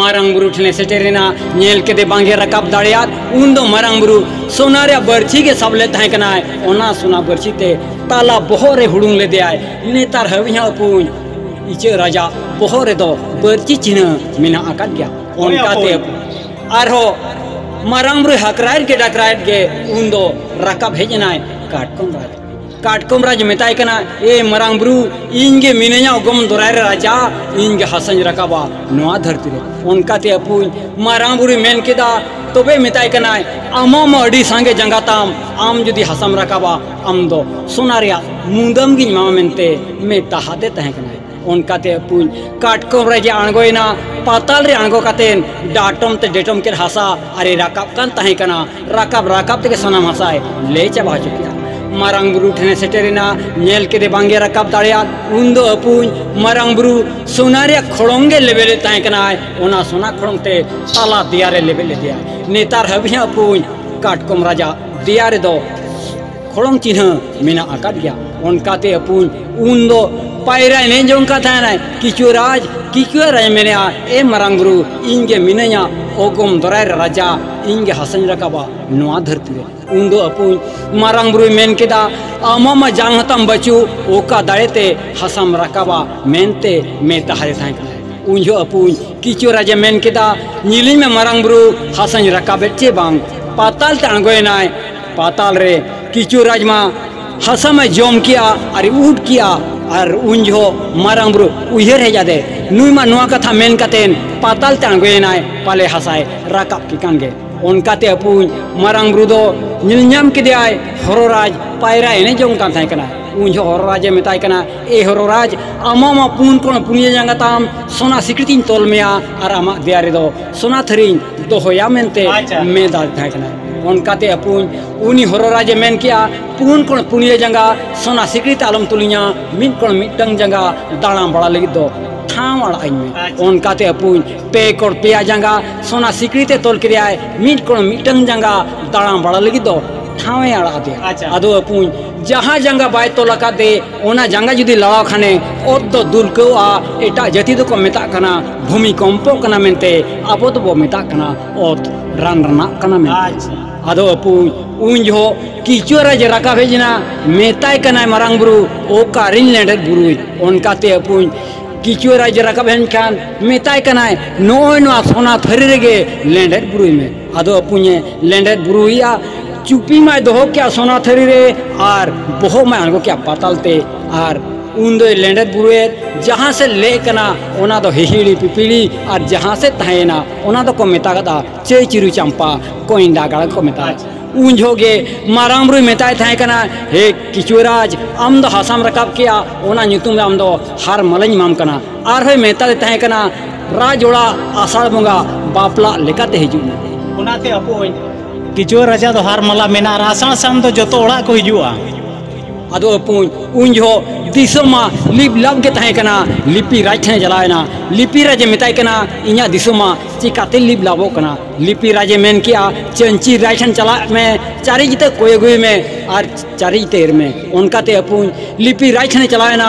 ᱢᱟᱨᱟᱝ ᱵᱩᱨᱩ ᱴᱷᱮᱱᱮ ᱥᱮᱴᱮᱨᱮᱱᱟ ᱧᱮᱞ ᱠᱮᱫᱮ ᱵᱟᱝᱜᱮ ᱨᱟᱠᱟᱵ ᱫᱟᱲᱮᱭᱟᱫ ᱩᱱ ᱫᱚ ᱢᱟᱨᱟᱝ ᱵᱩᱨᱩ ᱥᱚᱱᱟ ᱨᱮᱭᱟᱜ ᱵᱟᱹᱲᱪᱷᱤ ᱜᱮ ᱥᱟᱵ ᱞᱮᱫ ᱛᱟᱦᱮᱸ ᱠᱟᱱᱟᱭ ᱚᱱᱟ ᱥᱚᱱᱟ ᱵᱟᱹᱲᱪᱷᱤ ᱛᱮ ᱛᱟᱞᱟ ᱵᱚᱦᱚᱜ ᱨᱮ ᱦᱩᱲᱩᱝ ᱞᱮᱫᱮᱭᱟᱭ ᱱᱮᱛᱟᱨ ᱦᱟᱹᱵᱤᱡ ᱦᱚᱸ ᱟᱹᱯᱩᱧ ᱤᱪᱟᱹᱜ ᱨᱟᱡᱟ ᱵᱚᱦᱚᱜ ᱨᱮᱫᱚ ᱵᱟᱹᱲᱪᱷᱤ ᱪᱤᱱᱦᱟᱹ ᱢᱮᱱᱟᱜ ᱟᱠᱟᱫ ᱜᱮᱭᱟ ᱚᱱᱠᱟᱛᱮ ᱟᱨᱦᱚᱸ ᱢᱟᱨᱟᱝ ᱵᱩᱨᱩ ᱦᱟᱠᱨᱟᱭᱮᱫ ᱜᱮ ᱰᱟᱠᱨᱟᱭᱮᱫ ᱜᱮ ᱩᱱ ᱫᱚ ᱨᱟᱠᱟᱵ ᱦᱮᱡ ᱮᱱᱟᱭ ᱠᱟᱴᱠᱚᱢ ᱨᱟᱡᱟ ᱠᱟᱴᱠᱚᱢ ᱨᱟᱡᱽ ᱢᱮᱛᱟᱭ ᱠᱟᱱᱟ ᱮ ᱢᱟᱨᱟᱝ ᱵᱩᱨᱩ ᱤᱧ ᱜᱮ ᱢᱤᱱᱟᱹᱧᱟ ᱚᱜᱚᱢ ᱫᱚᱨᱟᱭ ᱨᱮ ᱨᱟᱡᱟ ᱤᱧ ᱜᱮ ᱦᱟᱥᱟᱧ ᱨᱟᱠᱟᱵᱟ ᱱᱚᱣᱟ ᱫᱷᱟᱹᱨᱛᱤ ᱨᱮ ᱚᱱᱠᱟᱛᱮ ᱟᱹᱯᱩᱧ ᱢᱟᱨᱟᱝ ᱵᱩᱨᱩᱭ ᱢᱮᱱ ᱠᱮᱫᱟ ᱛᱚᱵᱮ ᱢᱮᱛᱟᱭ ᱠᱟᱱᱟᱭ ᱟᱢᱟᱜ ᱢᱟ ᱟᱹᱰᱤ ᱥᱟᱸᱜᱮ ᱡᱟᱸᱜᱟ ᱛᱟᱢ ᱟᱢ ᱡᱩᱫᱤ ᱦᱟᱥᱟᱢ ᱨᱟᱠᱟᱵᱟ ᱟᱢ ᱫᱚ ᱥᱚᱱᱟ ᱨᱮᱭᱟᱜ ᱢᱩᱫᱟᱹᱢ ᱜᱤᱧ ᱮᱢᱟᱢᱟ ᱢᱮᱱᱛᱮ ᱢᱮᱛᱟᱦᱟᱫᱮ ᱛᱟᱦᱮᱸ ᱠᱟᱱᱟᱭ ᱚᱱᱠᱟᱛᱮ ᱟᱹᱯᱩᱧ ᱠᱟᱴᱠᱚᱢ ᱨᱮ ᱡᱮ ᱟᱬᱜᱚᱭᱮᱱᱟ ᱯᱟᱛᱟᱞ ᱨᱮ ᱟᱬᱜᱚ ᱠᱟᱛᱮ ᱰᱟᱴᱚᱢ ᱛᱮ ᱰᱮᱴᱚᱢ ᱠᱮᱫ ᱦᱟᱥᱟ ᱟᱨᱮ ᱨᱟᱠᱟᱵ ᱠᱟᱱ ᱛᱟᱦᱮᱸ ᱠᱟᱱᱟ ᱨᱟᱠᱟᱵ ᱨᱟᱠᱟᱵ ᱛᱮᱜᱮ ᱥᱟᱱᱟᱢ ᱦᱟᱥᱟᱭ ᱞᱮ ᱪᱟᱵᱟ ᱦᱚᱪᱚ ᱠᱮᱫᱟ ᱢᱟᱨᱟᱝ ᱵᱩᱨᱩ ᱴᱷᱮᱱᱮ ᱥᱮᱴᱮᱨᱮᱱᱟ ᱧᱮᱞ ᱠᱮᱫᱮ ᱵᱟᱝᱜᱮ ᱨᱟᱠᱟᱵ ᱫᱟᱲᱮᱭᱟᱫ ᱩᱱᱫᱚ ᱟᱹᱯᱩᱧ ᱢᱟᱨᱟᱝ ᱵᱩᱨᱩ ᱥᱚᱱᱟ ᱨᱮᱭᱟᱜ ᱠᱷᱚᱲᱚᱝ ᱜᱮ ᱞᱮᱵᱮᱫᱮᱫ ᱛᱟᱦᱮᱸ ᱠᱟᱱᱟᱭ ᱚᱱᱟ ᱥᱚᱱᱟ ᱠᱷᱚᱲᱚᱝ ᱛᱮ ᱛᱟᱞᱟ ᱫᱮᱭᱟ ᱨᱮ ᱞᱮᱵᱮᱫ ᱞᱮᱫᱮᱭᱟ ᱱᱮᱛᱟᱨ ᱦᱟᱹᱵᱤᱡ ᱦᱚᱸ ᱟᱹᱯᱩᱧ ᱠᱟᱴᱠᱚᱢ ᱨᱟᱡᱟ ᱫᱮᱭᱟ ᱨᱮᱫᱚ ᱠᱷᱚᱲᱚᱝ ᱪᱤᱱᱦᱟᱹ ᱢᱮᱱᱟᱜ ᱟᱠᱟᱫ ᱜᱮᱭᱟ ᱚᱱᱠᱟᱛᱮ ᱟᱹᱯᱩᱧ ᱩᱱ ᱫᱚ ᱯᱟᱭᱨᱟ ᱮᱱᱮᱡ ᱡᱚᱝ ᱠᱟᱱ ᱛᱟᱦᱮᱱᱟᱭ ᱠᱤᱪᱩᱣᱟᱹ ᱨᱟᱡᱽ ᱠᱤᱪᱩᱣᱟᱹ ᱨᱟᱡᱽ ᱢᱮᱱᱮᱜᱼᱟ ᱮ ᱢᱟᱨᱟᱝ ᱵᱩᱨᱩ ᱤᱧ ᱜᱮ ᱢᱤᱱᱟᱹᱧᱟ ᱚᱜᱚᱢ ᱫᱚᱨᱟᱭ ᱨᱮ ᱨᱟᱡᱟ ᱤᱧ ᱜᱮ ᱦᱟᱥᱟᱧ ᱨᱟᱠᱟᱵᱟ ᱱᱚᱣᱟ ᱫᱷᱟᱹᱨᱛᱤ ᱨᱮ ᱩᱱ ᱫᱚ ᱟᱹᱯᱩᱧ ᱢᱟᱨᱟᱝ ᱵᱩᱨᱩᱭ ᱢᱮᱱ ᱠᱮᱫᱟ ᱟᱢᱟᱜ ᱢᱟ ᱡᱟᱝ ᱦᱟᱛᱟᱢ ᱵᱟᱹᱪᱩᱜ ᱚᱠᱟ ᱫᱟᱲᱮ ᱛᱮ ᱦᱟᱥᱟᱢ ᱨᱟᱠᱟᱵᱟ ᱢᱮᱱᱛᱮ ᱢᱮᱛᱟ ᱦᱟᱫᱮ ᱛᱟᱦᱮᱸ ᱠᱟᱱᱟ ᱩᱱ ᱡᱚᱦᱚᱜ ᱟᱹᱯᱩᱧ ᱠᱤᱪᱩᱣᱟᱹ ᱨᱟᱡᱮ ᱢᱮᱱ ᱠᱮᱫᱟ ᱧᱮᱞᱤᱧ ᱢᱮ ᱢᱟᱨᱟᱝ ᱵᱩᱨᱩ ᱦᱟᱥᱟᱧ ᱨᱟᱠᱟᱵᱮᱫ ᱪᱮ ᱵᱟᱝ ᱯᱟᱛᱟᱞ ᱛᱮ ᱟᱬᱜᱚᱭᱮᱱᱟᱭ ᱯᱟᱛᱟᱞ ᱨᱮ ᱠᱤᱪᱩ ᱨᱟᱡᱽ ᱢᱟ ᱦᱟᱥᱟ ᱢᱟ ᱡᱚᱢ ᱠᱮᱜᱼᱟ ᱟᱨ ᱩᱰ ᱠᱮᱜᱼᱟ ᱟᱨ ᱩᱱ ᱡᱚᱦᱚᱜ ᱢᱟᱨᱟᱝ ᱵᱩᱨᱩ ᱩᱭᱦᱟᱹᱨ ᱦᱮᱡ ᱟᱫᱮ ᱱᱩᱭ ᱢᱟ ᱱᱚᱣᱟ ᱠᱟᱛᱷᱟ ᱢᱮᱱ ᱠᱟᱛᱮ ᱯᱟᱛᱟᱞ ᱛᱮ ᱟᱬᱜᱚᱭᱮᱱᱟᱭ ᱯᱟᱞᱮ ᱦᱟᱥᱟᱭ ᱨᱟᱠᱟᱵ ᱠᱮ ᱠᱟᱱ ᱜᱮ ᱚᱱᱠᱟᱛᱮ ᱟᱹᱯᱩᱧ ᱢᱟᱨᱟᱝ ᱵᱩᱨᱩ ᱫᱚ ᱧᱮᱞ ᱧᱟᱢ ᱠᱮᱫᱮᱭᱟᱭ ᱦᱚᱨᱚ ᱨᱟᱡᱽ ᱯᱟᱭᱨᱟ ᱮᱱᱮᱡ ᱡᱚᱝ ᱠᱟᱱ ᱛᱟᱦᱮᱸ ᱠᱟᱱᱟ ᱩᱱ ᱡᱚᱦᱚᱜ ᱦᱚᱨᱚ ᱨᱟᱡᱽ ᱮ ᱢᱮᱛᱟᱭ ᱠᱟᱱᱟ ᱮ ᱦᱚᱨᱚ ᱨᱟᱡᱽ ᱟᱢᱟᱜ ᱢᱟ ᱯᱩᱱ ᱠᱚᱬ ᱯᱩᱱᱭᱟᱹ ᱡᱟᱸᱜᱟ ᱛᱟᱢ ᱥᱚᱱᱟ ᱥᱤᱠᱲᱤᱛᱤᱧ ᱛᱚᱞ ᱢᱮᱭᱟ ᱟᱨ ᱟᱢᱟᱜ ᱫᱮᱭᱟ ᱨᱮᱫᱚ ᱥᱚᱱᱟ ᱛᱷᱟᱹᱨᱤᱧ ᱫᱚᱦᱚᱭᱟ ᱢᱮᱱᱛᱮ ᱢᱮᱫᱟ ᱛᱟᱦᱮᱸ ᱠᱟᱱᱟ ᱚᱱᱠᱟᱛᱮ ᱟᱹᱯᱩᱧ ᱩᱱᱤ ᱦᱚᱨᱚᱨᱟᱡᱮ ᱢᱮᱱ ᱠᱮᱜᱼᱟ ᱯᱩᱱ ᱠᱚᱬ ᱯᱩᱱᱭᱟᱹ ᱡᱟᱸᱜᱟ ᱥᱚᱱᱟ ᱥᱤᱠᱲᱤ ᱛᱮ ᱟᱞᱚᱢ ᱛᱩᱞᱤᱧᱟ ᱢᱤᱫ ᱠᱚᱬ ᱢᱤᱫᱴᱟᱝ ᱡᱟᱸᱜᱟ ᱫᱟᱬᱟ ᱵᱟᱲᱟ ᱞᱟᱹᱜᱤᱫ ᱫᱚ ᱴᱷᱟᱶ ᱟᱲᱟᱜ ᱟᱹᱧ ᱢᱮ ᱚᱱᱠᱟᱛᱮ ᱟᱹᱯᱩᱧ ᱯᱮ ᱠᱚᱬ ᱯᱮᱭᱟ ᱡᱟᱸᱜᱟ ᱥᱚᱱᱟ ᱥᱤᱠᱲᱤ ᱛᱮ ᱛᱚᱞ ᱠᱮᱫᱮᱭᱟᱭ ᱢᱤᱫ ᱠᱚᱬ ᱢᱤᱫᱴᱟᱝ ᱡᱟᱸᱜᱟ ᱫᱟᱬᱟ ᱵᱟᱲᱟ ᱞᱟᱹᱜᱤᱫ ᱫᱚ ᱴᱷᱟᱶ ᱮ ᱟᱲᱟᱜ ᱟᱫᱮᱭᱟ ᱟᱫᱚ ᱟᱹᱯᱩᱧ ᱡᱟᱦᱟᱸ ᱡᱟᱸᱜᱟ ᱵᱟᱭ ᱛᱚᱞ ᱟᱠᱟᱫᱮ ᱚᱱᱟ ᱡᱟᱸᱜᱟ ᱡᱩᱫᱤ ᱞᱟᱲᱟᱣ ᱠᱷᱟᱱᱮ ᱚᱛ ᱫᱚ ᱫᱩᱞᱠᱟᱹᱣᱟ ᱮᱴᱟᱜ ᱡᱟᱹᱛᱤ ᱫᱚᱠᱚ ᱢᱮᱛᱟᱜ ᱠᱟᱱᱟ ᱵᱷᱩᱢᱤ ᱠᱚᱢᱯᱚᱜ ᱠᱟᱱᱟ ᱢᱮᱱᱛᱮ ᱟᱵᱚ ᱫᱚᱵᱚ ᱢᱮᱛᱟᱜ ᱠᱟᱱᱟ ᱚᱛ ᱨᱟᱱ ᱨᱟᱱᱟᱜ ᱠᱟᱱᱟ ᱢᱮᱱᱛᱮ ᱟᱫᱚ ᱟᱹᱯᱩᱧ ᱩᱱ ᱡᱚᱦᱚᱜ ᱠᱤᱪᱩᱣᱟᱹᱨᱟᱡᱽ ᱨᱟᱠᱟᱵ ᱦᱮᱡ ᱮᱱᱟ ᱢᱮᱛᱟᱭ ᱠᱟᱱᱟᱭ ᱢᱟᱨᱟᱝ ᱵᱩᱨᱩ ᱚᱠᱟᱨᱮᱧ ᱞᱮᱸᱰᱮᱫ ᱵᱩᱨᱩᱭ ᱚᱱᱠᱟᱛᱮ ᱟᱹᱯᱩᱧ ᱠᱤᱪᱩᱣᱟᱹᱨᱟᱡᱽ ᱨᱟᱠᱟᱵ ᱦᱮᱡ ᱮᱱᱠᱷᱟᱱ ᱢᱮᱛᱟᱭ ᱠᱟᱱᱟᱭ ᱱᱚᱜᱼᱚᱭ ᱱᱚᱣᱟ ᱥᱚᱱᱟ ᱛᱷᱟᱹᱨᱤ ᱨᱮᱜᱮ ᱞᱮᱸᱰᱮᱫ ᱵᱩᱨᱩᱭ ᱢᱮ ᱟᱫᱚ ᱟᱹᱯᱩᱧᱮ ᱞᱮᱸᱰᱮᱫ ᱵᱩᱨᱩᱭᱮᱭᱟ ᱪᱩᱯᱤ ᱢᱟᱭ ᱫᱚᱦᱚ ᱠᱮᱜᱼᱟ ᱥᱚᱱᱟ ᱛᱷᱟᱹᱨᱤ ᱨᱮ ᱟᱨ ᱵᱚᱦᱚᱜ ᱢᱟᱭ ᱟᱬᱜᱚ ᱠᱮᱜᱼᱟ ᱯᱟᱛᱟᱞ ᱛᱮ ᱟᱨ ᱩᱱ ᱫᱚᱭ ᱞᱮᱸᱰᱮᱫ ᱵᱩᱨᱩᱭᱮᱫ ᱡᱟᱦᱟᱸ ᱥᱮᱫ ᱞᱮᱜ ᱠᱟᱱᱟ ᱚᱱᱟ ᱫᱚ ᱦᱤᱦᱤᱲᱤ ᱯᱤᱯᱤᱲᱤ ᱟᱨ ᱡᱟᱦᱟᱸ ᱥᱮᱫ ᱛᱟᱦᱮᱸᱭᱮᱱᱟ ᱚᱱᱟ ᱫᱚᱠᱚ ᱢᱮᱛᱟᱜᱟᱫᱼᱟ ᱪᱟᱹᱭ ᱪᱤᱨᱩ ᱪᱟᱢᱯᱟ ᱠᱚᱸᱭᱰᱟ ᱜᱟᱲ ᱠᱚ ᱢᱮᱛᱟᱜᱼᱟ ᱩᱱ ᱡᱚᱦᱚᱜ ᱜᱮ ᱢᱟᱨᱟᱝ ᱵᱩᱨᱩᱭ ᱢᱮᱛᱟᱭ ᱛᱟᱦᱮᱸ ᱠᱟᱱᱟ ᱦᱮ ᱠᱤᱪᱩᱣᱟᱹ ᱨᱟᱡᱽ ᱟᱢ ᱫᱚ ᱦᱟᱥᱟᱢ ᱨᱟᱠᱟᱵ ᱠᱮᱜᱼᱟ ᱚᱱᱟ ᱧᱩᱛᱩᱢ ᱫᱚ ᱟᱢ ᱫᱚ ᱦᱟᱨ ᱢᱟᱞᱟᱧ ᱮᱢᱟᱢ ᱠᱟᱱᱟ ᱟᱨᱦᱚᱸᱭ ᱢᱮᱛᱟᱫᱮ ᱛᱟᱦᱮᱸ ᱠᱟᱱᱟ ᱨᱟᱡᱽ ᱚᱲᱟᱜ ᱟᱥᱟᱲ ᱵᱚᱸᱜᱟ ᱵᱟᱯᱞᱟ ᱞᱮᱠᱟᱛᱮ ᱦᱤᱡᱩᱜ ᱢᱮ ᱚᱱᱟᱛᱮ ᱟᱯᱚᱭ ᱠᱤᱪᱩᱣᱟᱹ ᱨᱟᱡᱟ ᱫᱚ ᱦᱟᱨ ᱢᱟᱞᱟ ᱢᱮᱱᱟ ᱟᱨ ᱟᱥᱟᱲ ᱥᱟᱱ ᱫᱚ ᱡᱚᱛᱚ ᱚᱲᱟᱜ ᱠᱚ ᱦᱤᱡᱩᱜᱼᱟ ᱟᱫᱚ ᱟᱯᱚᱭ ᱩᱱ ᱡᱚᱦᱚᱜ ᱫᱤᱥᱚᱢ ᱢᱟ ᱞᱤᱯ ᱞᱟᱯ ᱜᱮ ᱛᱟᱦᱮᱸ ᱠᱟᱱᱟ ᱞᱤᱯᱤ ᱨᱟᱡᱽ ᱴᱷᱮᱱ ᱪᱟᱞᱟᱣ ᱮᱱᱟ ᱞᱤᱯᱤ ᱨᱟᱡᱮ ᱢᱮᱛᱟᱭ ᱠᱟᱱᱟ ᱤᱧᱟᱹᱜ ᱫᱤᱥᱚᱢ ᱢᱟ ᱪᱤᱠᱟᱛᱮ ᱞᱤᱯ ᱞᱟᱵᱚᱜ ᱠᱟᱱᱟ ᱞᱤᱯᱤ ᱨᱟᱡᱮ ᱢᱮᱱ ᱠᱮᱜᱼᱟ ᱪᱟᱹᱧᱪᱤ ᱨᱟᱡᱽ ᱴᱷᱮᱱ ᱪᱟᱞᱟᱜ ᱢᱮ ᱪᱟᱹᱨᱤᱡ ᱛᱮ ᱠᱚᱭ ᱟᱹᱜᱩᱭ ᱢᱮ ᱟᱨ ᱪᱟᱹᱨᱤᱡ ᱛᱮ ᱮᱨ ᱢᱮ ᱚᱱᱠᱟᱛᱮ ᱟᱯᱚᱭ ᱞᱤᱯᱤ ᱨᱟᱡᱽ ᱴᱷᱮᱱᱮ ᱪᱟᱞᱟᱣ ᱮᱱᱟ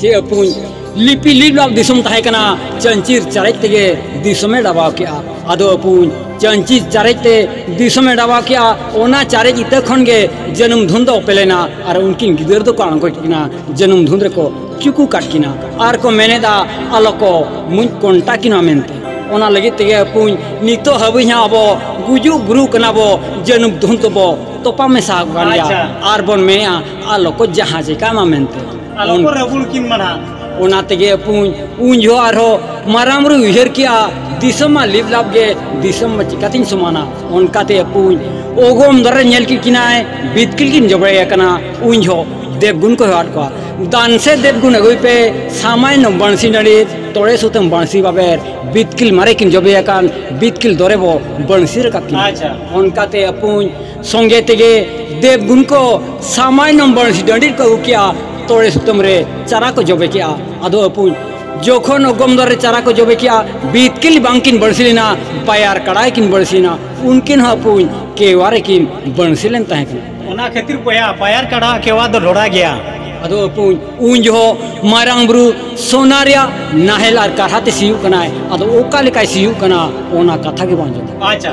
ᱪᱮ ᱟᱹᱯᱩᱧ ᱞᱤᱯᱤ ᱞᱤᱞᱟᱞ ᱫᱤᱥᱚᱢ ᱛᱟᱦᱮᱸ ᱠᱟᱱᱟ ᱪᱟᱹᱱᱪᱤᱨ ᱪᱟᱨᱮᱡ ᱛᱮᱜᱮ ᱫᱤᱥᱚᱢᱮ ᱰᱟᱵᱟᱣ ᱠᱮᱜᱼᱟ ᱟᱫᱚ ᱟᱹᱯᱩᱧ ᱪᱟᱹᱱᱪᱤᱨ ᱪᱟᱨᱮᱡ ᱛᱮ ᱫᱤᱥᱚᱢᱮ ᱰᱟᱵᱟᱣ ᱠᱮᱜᱼᱟ ᱚᱱᱟ ᱪᱟᱨᱮᱡ ᱤᱛᱟᱹ ᱠᱷᱚᱱ ᱜᱮ ᱡᱟᱹᱱᱩᱢ ᱫᱷᱩᱱ ᱫᱚ ᱚᱯᱮ ᱞᱮᱱᱟ ᱟᱨ ᱩᱱᱠᱤᱱ ᱜᱤᱫᱟᱹᱨ ᱫᱚᱠᱚ ᱟᱬᱜᱚ ᱠᱤᱱᱟ ᱡᱟᱹᱱᱩᱢ ᱫᱷᱩᱱ ᱨᱮᱠᱚ ᱪᱩᱠᱩ ᱠᱟᱫ ᱠᱤᱱᱟ ᱟᱨ ᱠᱚ ᱢᱮᱱᱮᱫᱟ ᱟᱞᱚ ᱠᱚ ᱢᱩᱡ ᱠᱚᱱᱴᱟ ᱠᱤᱱᱟ ᱢᱮᱱᱛᱮ ᱚᱱᱟ ᱞᱟᱹᱜᱤᱫ ᱛᱮᱜᱮ ᱟᱹᱯᱩᱧ ᱱᱤᱛᱚᱜ ᱦᱟᱹᱵᱤᱡ ᱦᱚᱸ ᱟᱵᱚ ᱜᱩᱡᱩᱜ ᱵᱩᱨᱩᱜ ᱠᱟᱱᱟ ᱵᱚ ᱡᱟᱹᱱᱩᱢ ᱫᱷᱩᱱ ᱛᱮᱵᱚ ᱛᱚᱯᱟ ᱢᱮᱥᱟ ᱟᱠᱟᱱ ᱜᱮᱭᱟ ᱟᱨ ᱵᱚᱱ ᱢᱮᱱᱮᱜᱼᱟ ᱟᱞᱚ ᱠᱚ ᱡᱟᱦᱟᱸ ᱪᱮᱠᱟ ᱢᱟ ᱢᱮᱱᱛᱮ ᱟᱞᱚ ᱠᱚ ᱨᱟᱹᱵᱩᱲ ᱠᱤᱱ ᱢᱟᱱᱟ ᱚᱱᱟ ᱛᱮᱜᱮ ᱯᱩᱧ ᱩᱱ ᱡᱚᱦᱚᱜ ᱟᱨᱦᱚᱸ ᱢᱟᱨᱟᱝ ᱵᱩᱨᱩ ᱩᱭᱦᱟᱹᱨ ᱠᱮᱜᱼᱟ ᱫᱤᱥᱚᱢ ᱢᱟ ᱞᱤᱯ ᱞᱟᱯ ᱜᱮ ᱫᱤᱥᱚᱢ ᱢᱟ ᱪᱤᱠᱟᱛᱤᱧ ᱥᱚᱢᱟᱱᱟ ᱚᱱᱠᱟᱛᱮ ᱯᱩᱧ ᱚᱜᱚᱢ ᱫᱟᱨᱮ ᱧᱮᱞ ᱠᱮᱫ ᱠᱤᱱᱟᱭ ᱵᱤᱛᱠᱤᱞ ᱠᱤᱱ ᱡᱚᱵᱲᱟᱭ ᱟᱠᱟᱱᱟ ᱩᱱ ᱡᱚᱦᱚᱜ ᱫᱮᱵᱽᱜᱩᱱ ᱠᱚ ᱦᱚᱦᱚᱣᱟᱫ ᱠᱚᱣᱟ ᱫᱟᱱ ᱥᱮ ᱫᱮᱵᱽᱜᱩᱱ ᱟᱹᱜᱩᱭ ᱯᱮ ᱥᱟᱢᱟᱭᱱᱚ ᱵᱟᱹᱬᱥᱤ ᱱᱟᱹᱲᱤ ᱛᱚᱲᱮ ᱥᱩᱛᱟᱹᱢ ᱵᱟᱹᱬᱥᱤ ᱵᱟᱵᱮᱨ ᱵᱤᱛᱠᱤᱞ ᱢᱟᱨᱮ ᱠᱤᱱ ᱡᱚᱵᱮ ᱟᱠᱟᱱ ᱵᱤᱛᱠᱤᱞ ᱫᱚᱨᱮ ᱵᱚ ᱵᱟᱹᱬᱥᱤ ᱨᱟᱠᱟᱵ ᱠᱤᱱᱟ ᱚᱱᱠᱟᱛᱮ ᱯᱩᱧ ᱥᱚᱸᱜᱮ ᱛᱮᱜᱮ ᱫᱮᱵᱽ ᱜᱩᱱ ᱠᱚ ᱥᱟᱢᱟᱭ ᱱᱚᱢᱵᱚᱱ ᱰᱟᱺᱰᱤ ᱨᱮᱠᱚ ᱟᱹᱜᱩ ᱠᱮᱜᱼᱟ ᱛᱚᱲᱮ ᱥᱩᱛᱟᱹᱢ ᱨᱮ ᱪᱟᱨᱟ ᱠᱚ ᱡᱚᱵᱮ ᱠᱮᱜᱼᱟ ᱟᱫᱚ ᱟᱹᱯᱩᱡ ᱡᱚᱠᱷᱚᱱ ᱚᱜᱚᱢ ᱫᱟᱨᱮ ᱨᱮ ᱪᱟᱨᱟ ᱠᱚ ᱡᱚᱵᱮ ᱠᱮᱜᱼᱟ ᱵᱤᱛᱠᱤᱞ ᱵᱟᱝ ᱠᱤᱱ ᱵᱟᱹᱲᱥᱤ ᱞᱮᱱᱟ ᱵᱟᱭᱟᱨ ᱠᱟᱲᱟ ᱜᱮᱠᱤᱱ ᱵᱟᱹᱲᱥᱤ ᱞᱮᱱᱟ ᱩᱱᱠᱤᱱ ᱦᱚᱸ ᱟᱹᱯᱩᱡ ᱠᱮᱣᱟ ᱨᱮᱠᱤᱱ ᱵᱟᱹᱲᱥᱤ ᱞᱮᱱ ᱛᱟᱦᱮᱸ ᱠᱟᱱᱟ ᱚᱱᱟ ᱠᱷᱟᱹᱛᱤᱨ ᱵᱚᱭᱦᱟ ᱵᱟᱭᱟᱨ ᱠᱟᱲᱟ ᱟᱜ ᱠᱮᱣᱟ ᱫᱚ ᱰᱷᱚᱲᱟ ᱜᱮᱭᱟ ᱟᱫᱚ ᱟᱹᱯᱩᱡ ᱩᱱ ᱡᱚᱦᱚᱜ ᱢᱟᱨᱟᱝ ᱵᱩᱨᱩ ᱥᱚᱱᱟ ᱨᱮᱭᱟᱜ ᱱᱟᱦᱮᱞ ᱟᱨ ᱠᱟᱨᱦᱟ ᱛᱮ ᱥᱤᱭᱳᱜ ᱠᱟᱱᱟᱭ ᱟᱫᱚ ᱚᱠᱟ ᱞᱮᱠᱟᱭ ᱥᱤᱭᱳᱜ ᱠᱟᱱᱟ ᱚᱱᱟ ᱠᱟᱛᱷᱟ ᱜᱮ ᱵᱟᱝ ᱡᱩᱛᱩᱜᱼᱟ ᱟᱪᱪᱷᱟ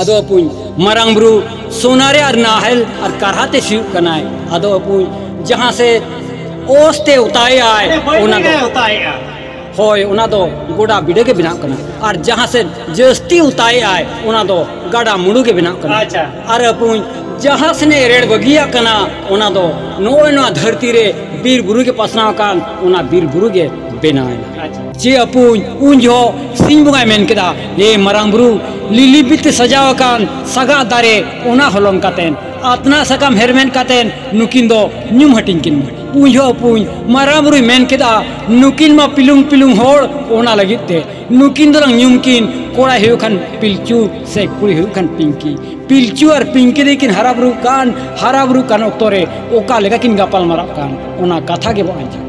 ᱟᱫᱚ ᱟᱯᱩᱧ ᱢᱟᱨᱟᱝ ᱵᱩᱨᱩ ᱥᱚᱱᱟ ᱨᱮ ᱟᱨ ᱱᱟᱦᱮᱞ ᱟᱨ ᱠᱟᱨᱦᱟ ᱛᱮ ᱥᱤᱭᱩᱜ ᱠᱟᱱᱟᱭ ᱟᱫᱚ ᱟᱯᱩᱧ ᱡᱟᱦᱟᱸ ᱥᱮ ᱚᱥ ᱛᱮ ᱚᱛᱟᱭ ᱟᱭ ᱚᱱᱟ ᱫᱚ ᱚᱛᱟᱭᱮᱜᱼᱟ ᱦᱳᱭ ᱚᱱᱟ ᱫᱚ ᱜᱚᱰᱟ ᱵᱤᱰᱟᱹ ᱜᱮ ᱵᱮᱱᱟᱜ ᱠᱟᱱᱟ ᱟᱨ ᱡᱟᱦᱟᱸ ᱥᱮ ᱡᱟᱹᱥᱛᱤ ᱚᱛᱟᱭ ᱟᱭ ᱚᱱᱟ ᱫᱚ ᱜᱟᱰᱟ ᱢᱩᱰᱩ ᱜᱮ ᱵᱮᱱᱟᱜ ᱠᱟᱱᱟ ᱟᱪᱪᱷᱟ ᱟᱨ ᱟᱯᱩᱧ ᱡᱟᱦᱟᱸ ᱥᱮᱱᱮ ᱨᱮᱲ ᱵᱟᱹᱜᱤᱭᱟ ᱠᱟᱱᱟ ᱚᱱᱟ ᱫᱚ ᱱᱚᱜᱼᱚᱭ ᱱᱚᱣᱟ ᱫᱷᱟᱹᱨᱛᱤ ᱨᱮ ᱵᱤᱨ ᱵᱩᱨᱩ ᱜᱮ ᱯᱟᱥᱱᱟᱣ ᱟᱠᱟᱱ ᱚᱱᱟ ᱵᱤᱨ ᱵᱩᱨᱩ ᱜᱮ ᱵᱮᱱᱟᱣ ᱮᱱᱟ ᱪᱮ ᱟᱹᱯᱩᱧ ᱩᱱ ᱡᱚᱦᱚᱜ ᱥᱤᱧ ᱵᱚᱸᱜᱟᱭ ᱢᱮᱱ ᱠᱮᱫᱟ ᱮ ᱢᱟᱨᱟᱝ ᱵᱩᱨᱩ ᱞᱤᱞᱤ ᱵᱤᱛᱮ ᱥᱟᱡᱟᱣ ᱟᱠᱟᱱ ᱥᱟᱜᱟᱫ ᱫᱟᱨᱮ ᱚᱱᱟ ᱦᱚᱞᱚᱝ ᱠᱟᱛᱮ ᱟᱛᱱᱟ ᱥᱟᱠᱟᱢ ᱦᱮᱨᱢᱮᱫ ᱠᱟᱛᱮ ᱱᱩᱠᱤᱱ ᱫᱚ ᱧᱩᱢ ᱦᱟᱹᱴᱤᱧ ᱠᱤᱱ ᱢᱮ ᱩᱱ ᱡᱚᱦᱚᱜ ᱟᱹᱯᱩᱧ ᱢᱟᱨᱟᱝ ᱵᱩᱨᱩᱭ ᱢᱮᱱ ᱠᱮᱫᱟ ᱱᱩᱠᱤᱱ ᱢᱟ ᱯᱤᱞᱩᱝ ᱯᱤᱞᱩᱝ ᱦᱚᱲ ᱚᱱᱟ ᱞᱟᱹᱜᱤᱫ ᱛᱮ ᱱᱩᱠᱤᱱ ᱫᱚᱞᱟᱝ ᱧᱩᱢ ᱠᱤᱱ ᱠᱚᱲᱟᱭ ᱦᱩᱭᱩᱜ ᱠᱷᱟᱱ ᱯᱤᱞᱪᱩ ᱥᱮ ᱠᱩᱲᱤ ᱦᱩᱭᱩᱜ ᱠᱷᱟᱱ ᱯᱤᱝᱠᱤ ᱯᱤᱞᱪᱩ ᱟᱨ ᱯᱤᱝᱠᱤ ᱫᱚᱠᱤᱱ ᱦᱟᱨᱟ ᱵᱩᱨᱩᱜ ᱠᱟᱱ ᱦᱟᱨᱟ ᱵᱩᱨᱩᱜ ᱠᱟᱱ ᱚᱠᱛᱚ ᱨᱮ ᱚᱠᱟ ᱞᱮᱠᱟ ᱠᱤᱱ ᱜᱟᱯᱟᱞ ᱢᱟᱨᱟᱜ ᱠᱟᱱ ᱚᱱᱟ ᱠᱟᱛᱷᱟ ᱜᱮᱵᱚᱱ ᱟᱸᱡᱚᱢᱟ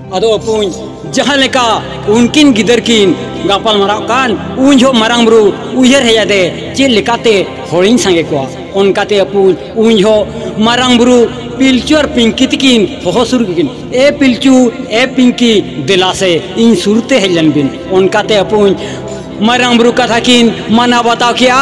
ᱟᱫᱚ ᱚᱯᱩᱧ ᱡᱟᱦᱟᱸ ᱞᱮᱠᱟ ᱩᱱᱠᱤᱱ ᱜᱤᱫᱟᱹᱨ ᱠᱤᱱ ᱜᱟᱯᱟᱞ ᱢᱟᱨᱟᱣ ᱠᱟᱱ ᱩᱱ ᱡᱚᱦᱚᱜ ᱢᱟᱨᱟᱝ ᱵᱩᱨᱩ ᱩᱭᱦᱟᱹᱨ ᱦᱮᱡ ᱟᱫᱮ ᱪᱮᱫ ᱞᱮᱠᱟᱛᱮ ᱦᱚᱲᱤᱧ ᱥᱟᱸᱜᱮ ᱠᱚᱣᱟ ᱚᱱᱠᱟᱛᱮ ᱚᱯᱩᱧ ᱩᱱ ᱡᱚᱦᱚᱜ ᱢᱟᱨᱟᱝ ᱵᱩᱨᱩ ᱯᱤᱞᱪᱩ ᱟᱨ ᱯᱤᱝᱠᱤ ᱛᱤᱠᱤᱱ ᱦᱚᱦᱚ ᱥᱩᱨ ᱠᱤᱱ ᱮ ᱯᱤᱞᱪᱩ ᱮ ᱯᱤᱝᱠᱤ ᱫᱮᱞᱟ ᱥᱮ ᱤᱧ ᱥᱩᱨᱛᱮ ᱦᱮᱡ ᱞᱮᱱ ᱵᱤᱱ ᱚᱱᱠᱟᱛᱮ ᱚᱯᱩᱧ ᱢᱟᱨᱟᱝ ᱵᱩᱨᱩ ᱠᱟᱛᱷᱟ ᱠᱤᱱ ᱢᱟᱱᱟᱣ ᱵᱟᱛᱟᱣ ᱠᱮᱜᱼᱟ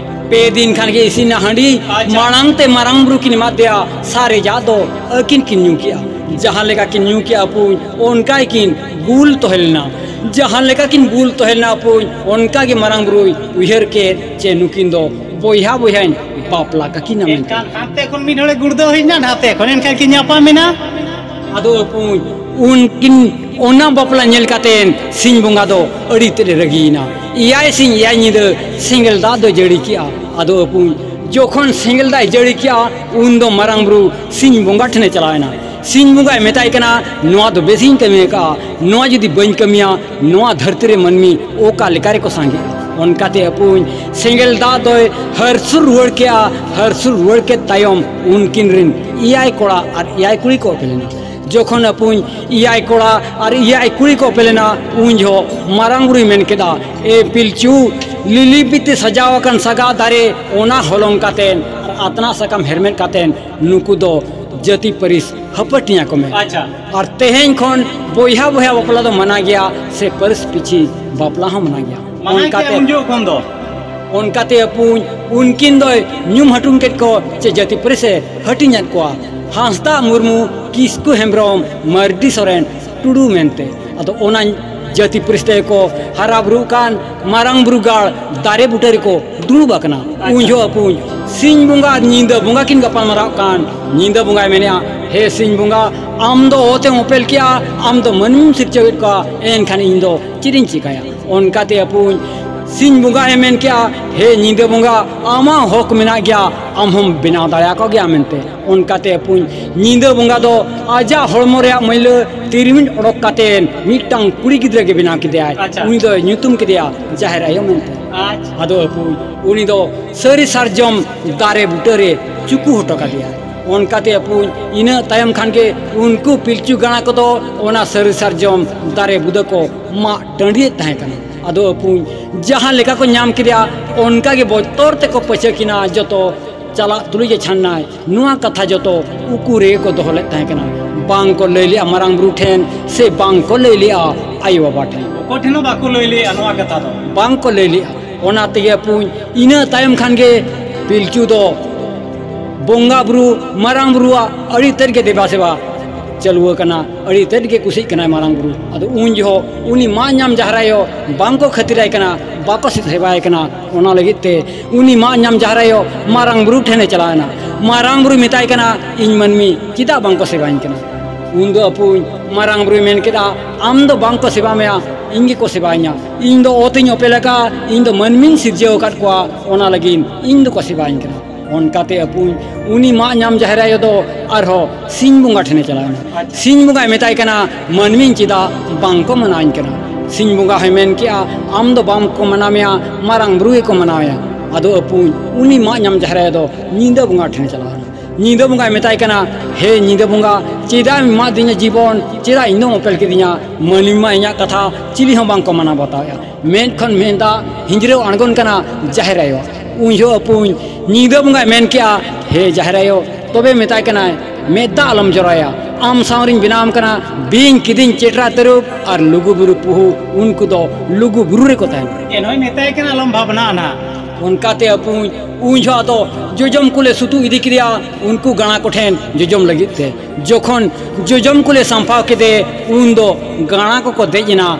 ᱯᱮ ᱫᱤᱱ ᱠᱷᱟᱱ ᱜᱮ ᱤᱥᱤᱱᱟ ᱦᱟᱺᱰᱤ ᱢᱟᱲᱟᱝ ᱛᱮ ᱢᱟᱨᱟᱝ ᱵᱩᱨᱩ ᱠᱤᱱ ᱮᱢᱟᱫ ᱫᱮᱭᱟ ᱥᱟᱨᱮᱡᱟᱜ ᱫᱚ ᱟᱹᱠᱤᱱ ᱠᱤᱱ ᱧᱩ ᱠᱮᱜᱼᱟ ᱡᱟᱦᱟᱸ ᱞᱮᱠᱟ ᱠᱤᱱ ᱧᱩ ᱠᱮᱜᱼᱟ ᱟᱹᱯᱩᱧ ᱚᱱᱠᱟ ᱜᱮᱠᱤᱱ ᱵᱩᱞ ᱛᱚᱦᱮ ᱞᱮᱱᱟ ᱡᱟᱦᱟᱸ ᱞᱮᱠᱟ ᱠᱤᱱ ᱵᱩᱞ ᱛᱚᱦᱮ ᱞᱮᱱᱟ ᱟᱹᱯᱩᱧ ᱚᱱᱠᱟ ᱜᱮ ᱢᱟᱨᱟᱝ ᱵᱩᱨᱩᱭ ᱩᱭᱦᱟᱹᱨ ᱠᱮᱫ ᱪᱮ ᱱᱩᱠᱤᱱ ᱫᱚ ᱵᱚᱭᱦᱟ ᱵᱚᱭᱦᱟᱧ ᱵᱟᱯᱞᱟ ᱠᱟᱠᱤᱱᱟ ᱢᱮᱱᱛᱮ ᱮᱱᱠᱷᱟᱱ ᱦᱟᱱᱛᱮ ᱠᱷᱚᱱ ᱢᱤᱫ ᱦᱚᱲᱮ ᱜᱩᱲᱫᱟᱹᱣ ᱦᱮᱡ ᱮᱱᱟ ᱱᱟᱛᱮ ᱠᱷᱚᱱ ᱮᱱᱠᱷᱟᱱ ᱠᱤᱱ ᱧᱟᱯᱟᱢᱮᱱᱟ ᱟᱫᱚ ᱯᱩᱸᱡ ᱩᱱᱠᱤᱱ ᱚᱱᱟ ᱵᱟᱯᱞᱟ ᱧᱮᱞ ᱠᱟᱛᱮ ᱥᱤᱧ ᱵᱚᱸᱜᱟ ᱫᱚ ᱟᱹᱰᱤ ᱛᱮᱫ ᱮ ᱨᱟᱹᱜᱤᱭᱮᱱᱟ ᱮᱭᱟᱭ ᱥᱤᱧ ᱮᱭᱟᱭ ᱧᱤᱫᱟᱹ ᱥᱮᱸᱜᱮᱞ ᱫᱟᱜ ᱫᱚ ᱡᱟᱹᱲᱤ ᱠᱮᱜᱼᱟ ᱟᱫᱚ ᱯᱩᱸᱡ ᱡᱚᱠᱷᱚᱱ ᱥᱮᱸᱜᱮᱞ ᱫᱟᱜ ᱡᱟᱹᱲᱤ ᱠᱮᱜᱼᱟ ᱩᱱ ᱫᱚ ᱢᱟᱨᱟᱝ ᱵᱩᱨᱩ ᱥᱤᱧ ᱵᱚᱸᱜᱟ ᱴᱷᱮᱱᱮ ᱪᱟᱞᱟᱣᱮᱱᱟ ᱥᱤᱧ ᱵᱚᱸᱜᱟᱭ ᱢᱮᱛᱟᱭ ᱠᱟᱱᱟ ᱱᱚᱣᱟ ᱫᱚ ᱵᱮᱥᱤᱧ ᱠᱟᱹᱢᱤ ᱟᱠᱟᱜᱼᱟ ᱱᱚᱣᱟ ᱡᱩᱫᱤ ᱵᱟᱹᱧ ᱠᱟᱹᱢᱤᱭᱟ ᱱᱚᱣᱟ ᱫᱷᱟᱹᱨᱛᱤ ᱨᱮ ᱢᱟᱹᱱᱢᱤ ᱚᱠᱟ ᱞᱮᱠᱟ ᱨᱮᱠᱚ ᱥᱟᱸᱜᱮᱜᱼᱟ ᱚᱱᱠᱟᱛᱮ ᱟᱹᱯᱩᱧ ᱥᱮᱸᱜᱮᱞ ᱫᱟᱜ ᱫᱚᱭ ᱦᱟᱹᱨᱥᱩᱨ ᱨᱩᱣᱟᱹᱲ ᱠᱮᱜᱼᱟ ᱦᱟᱹᱨᱥᱩᱨ ᱨᱩᱣᱟᱹᱲ ᱠᱮᱫ ᱛᱟᱭᱚᱢ ᱩᱱᱠᱤᱱ ᱨᱮᱱ ᱮᱭᱟᱭ ᱠᱚᱲᱟ ᱟᱨ ᱮᱭᱟᱭ ᱠᱩᱲᱤ ᱠᱚ ᱚᱯᱮᱞ ᱮᱱᱟ ᱡᱚᱠᱷᱚᱱ ᱟᱹᱯᱩᱧ ᱮᱭᱟᱭ ᱠᱚᱲᱟ ᱟᱨ ᱮᱭᱟᱭ ᱠᱩᱲᱤ ᱠᱚ ᱚᱯᱮᱞ ᱮᱱᱟ ᱩᱱ ᱡᱚᱦᱚᱜ ᱢᱟᱨᱟᱝ ᱵᱩᱨᱩᱭ ᱢᱮᱱ ᱠᱮᱫᱟ ᱮ ᱯᱤᱞᱪᱩ ᱞᱤᱞᱤ ᱵᱤᱛᱤ ᱥᱟᱡᱟᱣ ᱟᱠᱟᱱ ᱥᱟᱜᱟᱫ ᱫᱟᱨᱮ ᱚᱱᱟ ᱦᱚᱞᱚᱝ ᱠᱟᱛᱮᱫ ᱟᱛᱱᱟᱜ ᱥᱟᱠᱟᱢ ᱦᱮᱨᱢᱮᱫ ᱠᱟᱛᱮᱫ ᱱᱩᱠᱩ ᱫᱚ ᱡᱟᱹᱛᱤ ᱯᱟᱹᱨᱤᱥ ᱦᱟᱹᱯᱟᱹᱴᱤᱭᱟᱹ ᱠᱚ ᱢᱮᱱᱟ ᱟᱪᱪᱷᱟ ᱟᱨ ᱛᱮᱦᱮᱧ ᱠᱷᱚᱱ ᱵᱚᱭᱦᱟ ᱵᱚᱭᱦᱟ ᱵᱟᱯᱞᱟ ᱫᱚ ᱢᱟᱱᱟ ᱜᱮᱭᱟ ᱥᱮ ᱯᱟᱹᱨᱤᱥ ᱯᱤᱪᱷᱤ ᱵᱟᱯᱞᱟ ᱦᱚᱸ ᱢᱟᱱᱟ ᱜᱮᱭᱟ ᱢᱟᱱᱟᱭ ᱠᱮᱫ ᱩᱱ ᱡᱚᱠᱷᱚᱱ ᱠᱷᱚᱱ ᱫᱚ ᱚᱱᱠᱟᱛᱮ ᱟᱹᱯᱩᱧ ᱩᱱᱠᱤᱱ ᱫᱚᱭ ᱧᱩᱢ ᱦᱟᱹᱴᱩᱝ ᱠᱮᱫ ᱠᱚ ᱪᱮ ᱡᱟᱹᱛᱤ ᱯᱟᱹᱨᱤᱥ ᱮ ᱦᱟᱹᱴᱤᱧᱟᱫ ᱠᱚᱣᱟ ᱦᱟᱸᱥᱫᱟ ᱢᱩᱨᱢᱩ ᱠᱤᱥᱠᱩ ᱦᱮᱢᱵᱨᱚᱢ ᱢᱟᱹᱨᱰᱤ ᱥᱚᱨᱮᱱ ᱴᱩᱰᱩ ᱢᱮᱱᱛᱮ ᱟᱫᱚ ᱚᱱᱟ ᱡᱟᱹᱛᱤ ᱯᱟᱹᱨᱤᱥ ᱛᱮᱜᱮ ᱠᱚ ᱦᱟᱨᱟ ᱵᱩᱨᱩᱜ ᱠᱟᱱ ᱢᱟᱨᱟᱝ ᱵᱩᱨᱩ ᱜᱟᱲ ᱫᱟᱨᱮ ᱵᱩᱴᱟᱹ ᱨᱮᱠᱚ ᱫᱩᱲᱩᱵ ᱟᱠᱟᱱᱟ ᱩᱱ ᱡᱚᱦᱚᱜ ᱠᱚ ᱥᱤᱧ ᱵᱚᱸᱜᱟ ᱧᱤᱫᱟᱹ ᱵᱚᱸᱜᱟ ᱠᱤᱱ ᱜᱟᱯᱟᱞ ᱢᱟᱨᱟᱜ ᱠᱟᱱ ᱧᱤᱫᱟᱹ ᱵᱚᱸᱜᱟᱭ ᱢᱮᱱᱮᱜᱼᱟ ᱦᱮ ᱥᱤᱧ ᱵᱚᱸᱜᱟ ᱟᱢ ᱫᱚ ᱚᱛᱮᱢ ᱚᱯᱮᱞ ᱠᱮᱜᱼᱟ ᱟᱢ ᱫᱚ ᱢᱟᱹᱱᱢᱤᱢ ᱥᱤᱨᱡᱟᱹᱣᱮᱫ ᱠᱚᱣᱟ ᱮᱱᱠᱷᱟᱱ ᱤᱧ ᱫᱚ ᱪᱮᱫ ᱤᱧ ᱪᱤᱠᱟᱹᱭᱟ ᱚᱱᱠᱟᱛᱮ ᱟᱹᱯᱩᱧ ᱥᱤᱧ ᱵᱚᱸᱜᱟᱭ ᱢᱮᱱ ᱠᱮᱜᱼᱟ ᱦᱮ ᱧᱤᱫᱟᱹ ᱵᱚᱸᱜᱟ ᱟᱢᱟᱜ ᱦᱚᱠ ᱢᱮᱱᱟᱜ ᱜᱮᱭᱟ ᱟᱢ ᱦᱚᱢ ᱵᱮᱱᱟᱣ ᱫᱟᱲᱮᱭᱟᱠᱚ ᱜᱮᱭᱟ ᱢᱮᱱᱛᱮ ᱚᱱᱠᱟᱛᱮ ᱯᱩᱱ ᱧᱤᱫᱟᱹ ᱵᱚᱸᱜᱟ ᱫᱚ ᱟᱡᱟᱜ ᱦᱚᱲᱢᱚ ᱨᱮᱭᱟᱜ ᱢᱟᱹᱭᱞᱟᱹ ᱛᱤᱨᱢᱤᱡ ᱚᱰᱚᱠ ᱠᱟᱛᱮ ᱢᱤᱫᱴᱟᱝ ᱠᱩᱲᱤ ᱜᱤᱫᱽᱨᱟᱹ ᱜᱮ ᱵᱮᱱᱟᱣ ᱠᱮᱫᱮᱭᱟᱭ ᱩᱱᱤ ᱫᱚᱭ ᱧᱩᱛᱩᱢ ᱠᱮᱫᱮᱭᱟ ᱡᱟᱦᱮᱨ ᱟᱭᱳ ᱢᱮᱱᱛᱮ ᱟᱫᱚ ᱟᱹᱯᱩ ᱩᱱᱤ ᱫᱚ ᱥᱟᱹᱨᱤ ᱥᱟᱨᱡᱚᱢ ᱫᱟᱨᱮ ᱵᱩᱴᱟᱹ ᱨᱮ ᱪᱩᱠᱩ ᱦᱚᱴᱚ ᱠᱟᱫᱮᱭᱟ ᱚᱱᱠᱟᱛᱮ ᱟᱹᱯᱩ ᱤᱱᱟᱹ ᱛᱟᱭᱚᱢ ᱠᱷᱟᱱ ᱜᱮ ᱩᱱᱠᱩ ᱯᱤᱞᱪᱩ ᱜᱟᱬᱟ ᱠᱚᱫᱚ ᱚᱱᱟ ᱥᱟᱹᱨᱤ ᱥᱟᱨᱡᱚᱢ ᱫᱟᱨᱮ ᱵᱩᱫᱟᱹ ᱠᱚ ᱢᱟᱜ ᱴᱟᱺᱰᱤᱭᱮᱫ ᱛᱟᱦᱮᱸ ᱠᱟᱱᱟ ᱟᱫᱚ ᱟᱹᱯᱩ ᱡᱟᱦᱟᱸ ᱞᱮᱠᱟ ᱠᱚ ᱧᱟᱢ ᱠᱮᱫᱮᱭᱟ ᱚᱱᱠᱟ ᱜᱮ ᱵᱚᱛᱚᱨ ᱛᱮᱠᱚ ᱯᱟᱹᱪᱟᱹᱠᱮᱱᱟ ᱡᱚᱛᱚ ᱪᱟᱞᱟᱜ ᱛᱩᱞᱩᱡ ᱮ ᱪᱷᱟᱱᱱᱟᱭ ᱱᱚᱣᱟ ᱠᱟᱛᱷᱟ ᱡᱚᱛᱚ ᱩᱠᱩ ᱨᱮ ᱠᱚ ᱫᱚᱦᱚ ᱞᱮᱫ ᱛᱟᱦᱮᱸ ᱠᱟᱱᱟ ᱵᱟᱝ ᱠᱚ ᱞᱟᱹᱭ ᱞᱮᱜᱼᱟ ᱢᱟᱨᱟᱝ ᱵᱩᱨᱩ ᱴᱷᱮᱱ ᱥᱮ ᱵᱟᱝ ᱠᱚ ᱞᱟᱹᱭ ᱞᱮᱜᱼᱟ ᱟᱭᱳ ᱵᱟᱵᱟ ᱴᱷᱮᱱ ᱚᱠᱚᱭ ᱴᱷᱮᱱ ᱦᱚᱸ ᱵᱟᱠᱚ ᱞᱟᱹᱭ ᱞᱮᱜᱼᱟ ᱱᱚᱣᱟ ᱠᱟᱛᱷᱟ ᱫᱚ ᱵᱟᱝ ᱠᱚ ᱞᱟᱹᱭ ᱞᱮᱜᱼᱟ ᱚᱱᱟ ᱛᱮᱜᱮ ᱯᱩᱧ ᱤᱱᱟᱹ ᱛᱟᱭᱚᱢ ᱠᱷᱟᱱ ᱜᱮ ᱯᱤᱞᱪᱩ ᱫᱚ ᱵᱚᱸᱜᱟ ᱵᱩᱨᱩ ᱢᱟᱨᱟᱝ ᱵᱩᱨᱩᱣᱟᱜ ᱟᱹᱰᱤ ᱛᱮᱫ ᱜᱮ ᱫᱮᱵᱟ ᱥᱮᱵᱟ ᱪᱟᱹᱞᱩ ᱟᱠᱟᱱᱟ ᱟᱹᱰᱤ ᱛᱮᱫ ᱜᱮ ᱠᱩᱥᱤᱜ ᱠᱟᱱᱟᱭ ᱢᱟᱨᱟᱝ ᱵᱩᱨᱩ ᱟᱫᱚ ᱩᱱ ᱡᱚᱦᱚᱜ ᱩᱱᱤ ᱢᱟᱜ ᱧᱟᱢ ᱡᱟᱦᱨᱟᱭᱚ ᱵᱟᱝ ᱠᱚ ᱠᱷᱟᱹᱛᱤᱨᱟᱭ ᱠᱟᱱᱟ ᱵᱟᱠᱚ ᱥᱮᱵᱟᱭᱮ ᱠᱟᱱᱟ ᱚᱱᱟ ᱞᱟᱹᱜᱤᱫ ᱛᱮ ᱩᱱᱤ ᱢᱟᱜ ᱧᱟᱢ ᱡᱟᱦᱨᱟᱭᱚᱜ ᱢᱟᱨᱟᱝ ᱵᱩᱨᱩ ᱴᱷᱮᱱᱮ ᱪᱟᱞᱟᱣᱮᱱᱟ ᱢᱟᱨᱟᱝ ᱵᱩᱨᱩ ᱢᱮᱛᱟᱭ ᱠᱟᱱᱟ ᱤᱧ ᱢᱟᱹᱱᱢᱤ ᱪᱮᱫᱟᱜ ᱵᱟᱝᱠᱚ ᱥᱮᱵᱟᱧ ᱠᱟᱱᱟ ᱩᱱ ᱫᱚ ᱟᱹᱯᱩᱧ ᱢᱟᱨᱟᱝ ᱵᱩᱨᱩᱭ ᱢᱮᱱ ᱠᱮᱫᱟ ᱟᱢ ᱫᱚ ᱵᱟᱝᱠᱚ ᱥᱮᱵᱟ ᱢᱮᱭᱟ ᱤᱧ ᱜᱮᱠᱚ ᱥᱮᱵᱟᱧᱟ ᱤᱧ ᱫᱚ ᱚᱛᱤᱧ ᱚᱯᱮᱞ ᱟᱠᱟᱫ ᱤᱧ ᱫᱚ ᱢᱟᱹᱱᱢᱤᱧ ᱥᱤᱨᱡᱟᱹᱣ ᱟᱠᱟᱫ ᱠᱚᱣᱟ ᱚᱱᱟ ᱞᱟᱹᱜᱤᱫ ᱤᱧ ᱫᱚᱠᱚ ᱥᱮᱵᱟᱧ ᱠᱟᱱᱟ ᱚᱱᱠᱟᱛᱮ ᱟᱹᱯᱩᱧ ᱩᱱᱤ ᱢᱟᱜ ᱧᱟᱢ ᱡᱟᱦᱨᱟᱭᱚ ᱫᱚ ᱟᱨᱦᱚᱸ ᱥᱤᱧ ᱵᱚᱸᱜᱟ ᱴᱷᱮᱱᱮ ᱪᱟᱞᱟᱣᱮᱱᱟ ᱥᱤᱧ ᱵᱚᱸᱜᱟᱭ ᱢᱮᱛᱟᱭ ᱠᱟᱱᱟ ᱢᱟᱹᱱᱢᱤ ᱪᱮᱫᱟᱜ ᱵᱟᱝ ᱠᱚ ᱢᱟᱱᱟᱣᱤᱧ ᱠᱟᱱᱟ ᱥᱤᱧ ᱵᱚᱸᱜᱟ ᱦᱚᱸᱭ ᱢᱮᱱ ᱠᱮᱜᱼᱟ ᱟᱢ ᱫᱚ ᱵᱟᱢ ᱠᱚ ᱢᱟᱱᱟᱣᱮᱭᱟ ᱢᱟᱨᱟᱝ ᱵᱩᱨᱩ ᱜᱮᱠᱚ ᱢᱟᱱᱟᱣᱮᱭᱟ ᱟᱫᱚ ᱟᱹᱯᱩᱧ ᱩᱱᱤ ᱢᱟᱜ ᱧᱟᱢ ᱡᱟᱦᱮᱨ ᱟᱭᱳ ᱫᱚ ᱧᱤᱫᱟᱹ ᱵᱚᱸᱜᱟ ᱴᱷᱮᱱ ᱪᱟᱞᱟᱣ ᱮᱱᱟ ᱧᱤᱫᱟᱹ ᱵᱚᱸᱜᱟᱭ ᱢᱮᱛᱟᱭ ᱠᱟᱱᱟ ᱦᱮ ᱧᱤᱫᱟᱹ ᱵᱚᱸᱜᱟ ᱪᱮᱫᱟᱜ ᱮᱢ ᱮᱢᱟᱜ ᱫᱤᱧᱟ ᱡᱤᱵᱚᱱ ᱪᱮᱫᱟᱜ ᱤᱧ ᱫᱚᱢ ᱚᱯᱮᱞ ᱠᱤᱫᱤᱧᱟ ᱢᱟᱹᱱᱢᱤ ᱢᱟ ᱤᱧᱟᱹᱜ ᱠᱟᱛᱷᱟ ᱪᱤᱞᱤ ᱦᱚᱸ ᱵᱟᱝ ᱠᱚ ᱢᱟᱱᱟᱣ ᱵᱟᱛᱟᱣᱮᱜᱼᱟ ᱢᱮᱫ ᱠᱷᱚᱱ ᱢᱮᱫ ᱫᱟᱜ ᱦᱤᱸᱡᱽᱨᱟᱹᱣ ᱟᱬᱜᱚᱱ ᱠᱟᱱᱟ ᱡᱟᱦᱮᱨ ᱟᱭᱳ ᱩᱱ ᱡᱚᱦᱚᱜ ᱟᱹᱯᱩᱧ ᱧᱤᱫᱟᱹ ᱵᱚᱸᱜᱟᱭ ᱢᱮᱱ ᱠᱮᱜᱼᱟ ᱦᱮ ᱡᱟᱦᱮᱨ ᱟᱭᱳ ᱛᱚᱵᱮ ᱢᱮᱛᱟᱭ ᱠᱟᱱᱟᱭ ᱢᱮᱫ ᱫᱟᱜ ᱟᱞᱚᱢ ᱡᱚᱨᱟᱭᱟ ᱟᱢ ᱥᱟᱶ ᱨᱤᱧ ᱵᱮᱱᱟᱣ ᱟᱢ ᱠᱟᱱᱟ ᱵᱤᱧ ᱠᱤᱫᱤᱧ ᱪᱮᱴᱨᱟ ᱛᱟᱹᱨᱩᱵ ᱟᱨ ᱞᱩᱜᱩ ᱵᱩᱨᱩ ᱯᱩᱦᱩ ᱩᱱᱠᱩ ᱫᱚ ᱞᱩᱜᱩ ᱵᱩᱨᱩ ᱨᱮᱠᱚ ᱛᱟᱦᱮᱱᱟ ᱮᱱᱦᱚᱸᱭ ᱢᱮᱛᱟᱭ ᱠᱟᱱᱟ ᱟᱞᱚᱢ ᱵᱷᱟᱵᱽᱱᱟ ᱟᱱᱟ ᱚᱱᱠᱟᱛᱮ ᱟᱹᱯᱩᱧ ᱩᱱ ᱡᱚᱦᱚᱜ ᱫᱚ ᱡᱚᱡᱚᱢ ᱠᱚᱞᱮ ᱥᱩᱛᱩ ᱤᱫᱤ ᱠᱮᱫᱮᱭᱟ ᱩᱱᱠᱩ ᱜᱟᱬᱟ ᱠᱚᱴᱷᱮᱱ ᱡᱚᱡᱚᱢ ᱞᱟᱹᱜᱤᱫ ᱛᱮ ᱡᱚᱠᱷᱚᱱ ᱡᱚᱡᱚᱢ ᱠᱚᱞᱮ ᱥᱟᱢᱯᱷᱟᱣ ᱠᱮᱫᱮ ᱩᱱ ᱫᱚ ᱜᱟᱬᱟ ᱠᱚᱠᱚ ᱫᱮᱡ ᱮᱱᱟ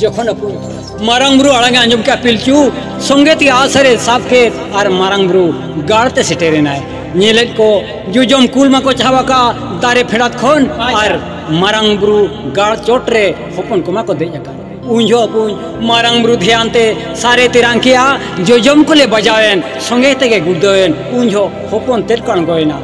ᱡᱚᱠᱷᱚᱱ ᱟᱹᱯᱩᱧ ᱢᱟᱨᱟᱝ ᱵᱩᱨᱩ ᱟᱲᱟᱝ ᱮ ᱟᱸᱡᱚᱢ ᱠᱮᱫᱼᱟ ᱯᱤᱞᱪᱩ ᱥᱚᱸᱜᱮ ᱛᱮ ᱟᱥᱨᱮ ᱥᱟᱵ ᱠᱮᱫ ᱟᱨ ᱢᱟᱨᱟᱝ ᱵᱩᱨᱩ ᱜᱟᱲ ᱛᱮ ᱥᱮᱴᱮᱨ ᱮᱱᱟᱭ ᱧᱮᱞᱮᱫ ᱠᱚ ᱡᱚᱡᱚᱢ ᱠᱩᱞ ᱢᱟᱠᱚ ᱪᱟᱦᱟᱣ ᱟᱠᱟᱫᱼᱟ ᱫᱟᱨᱮ ᱯᱷᱮᱰᱟᱛ ᱠᱷᱚᱱ ᱟᱨ ᱢᱟᱨᱟᱝ ᱵᱩᱨᱩ ᱜᱟᱲ ᱪᱚᱴ ᱨᱮ ᱦᱚᱯᱚᱱ ᱠᱚᱢᱟ ᱠᱚ ᱫᱮᱡ ᱟᱠᱟᱱ ᱩᱱ ᱡᱚᱦᱚᱜ ᱟᱹᱯᱩᱧ ᱢᱟᱨᱟᱝ ᱵᱩᱨᱩ ᱫᱷᱮᱭᱟᱱ ᱛᱮ ᱥᱟᱨᱮ ᱛᱮᱨᱟᱝ ᱠᱮᱫᱼᱟ ᱡᱚᱡᱚᱢ ᱠᱚᱞᱮ ᱵᱟᱡᱟᱣᱮᱱ ᱥᱚᱸᱜᱮ ᱛᱮᱜᱮ ᱜᱩᱲᱫᱟᱹᱣᱮᱱ ᱩᱱ ᱡᱚᱦᱚᱜ ᱦᱚᱯᱚᱱ ᱛᱮᱫ ᱠᱚ ᱟᱬᱜᱚᱭᱮᱱᱟ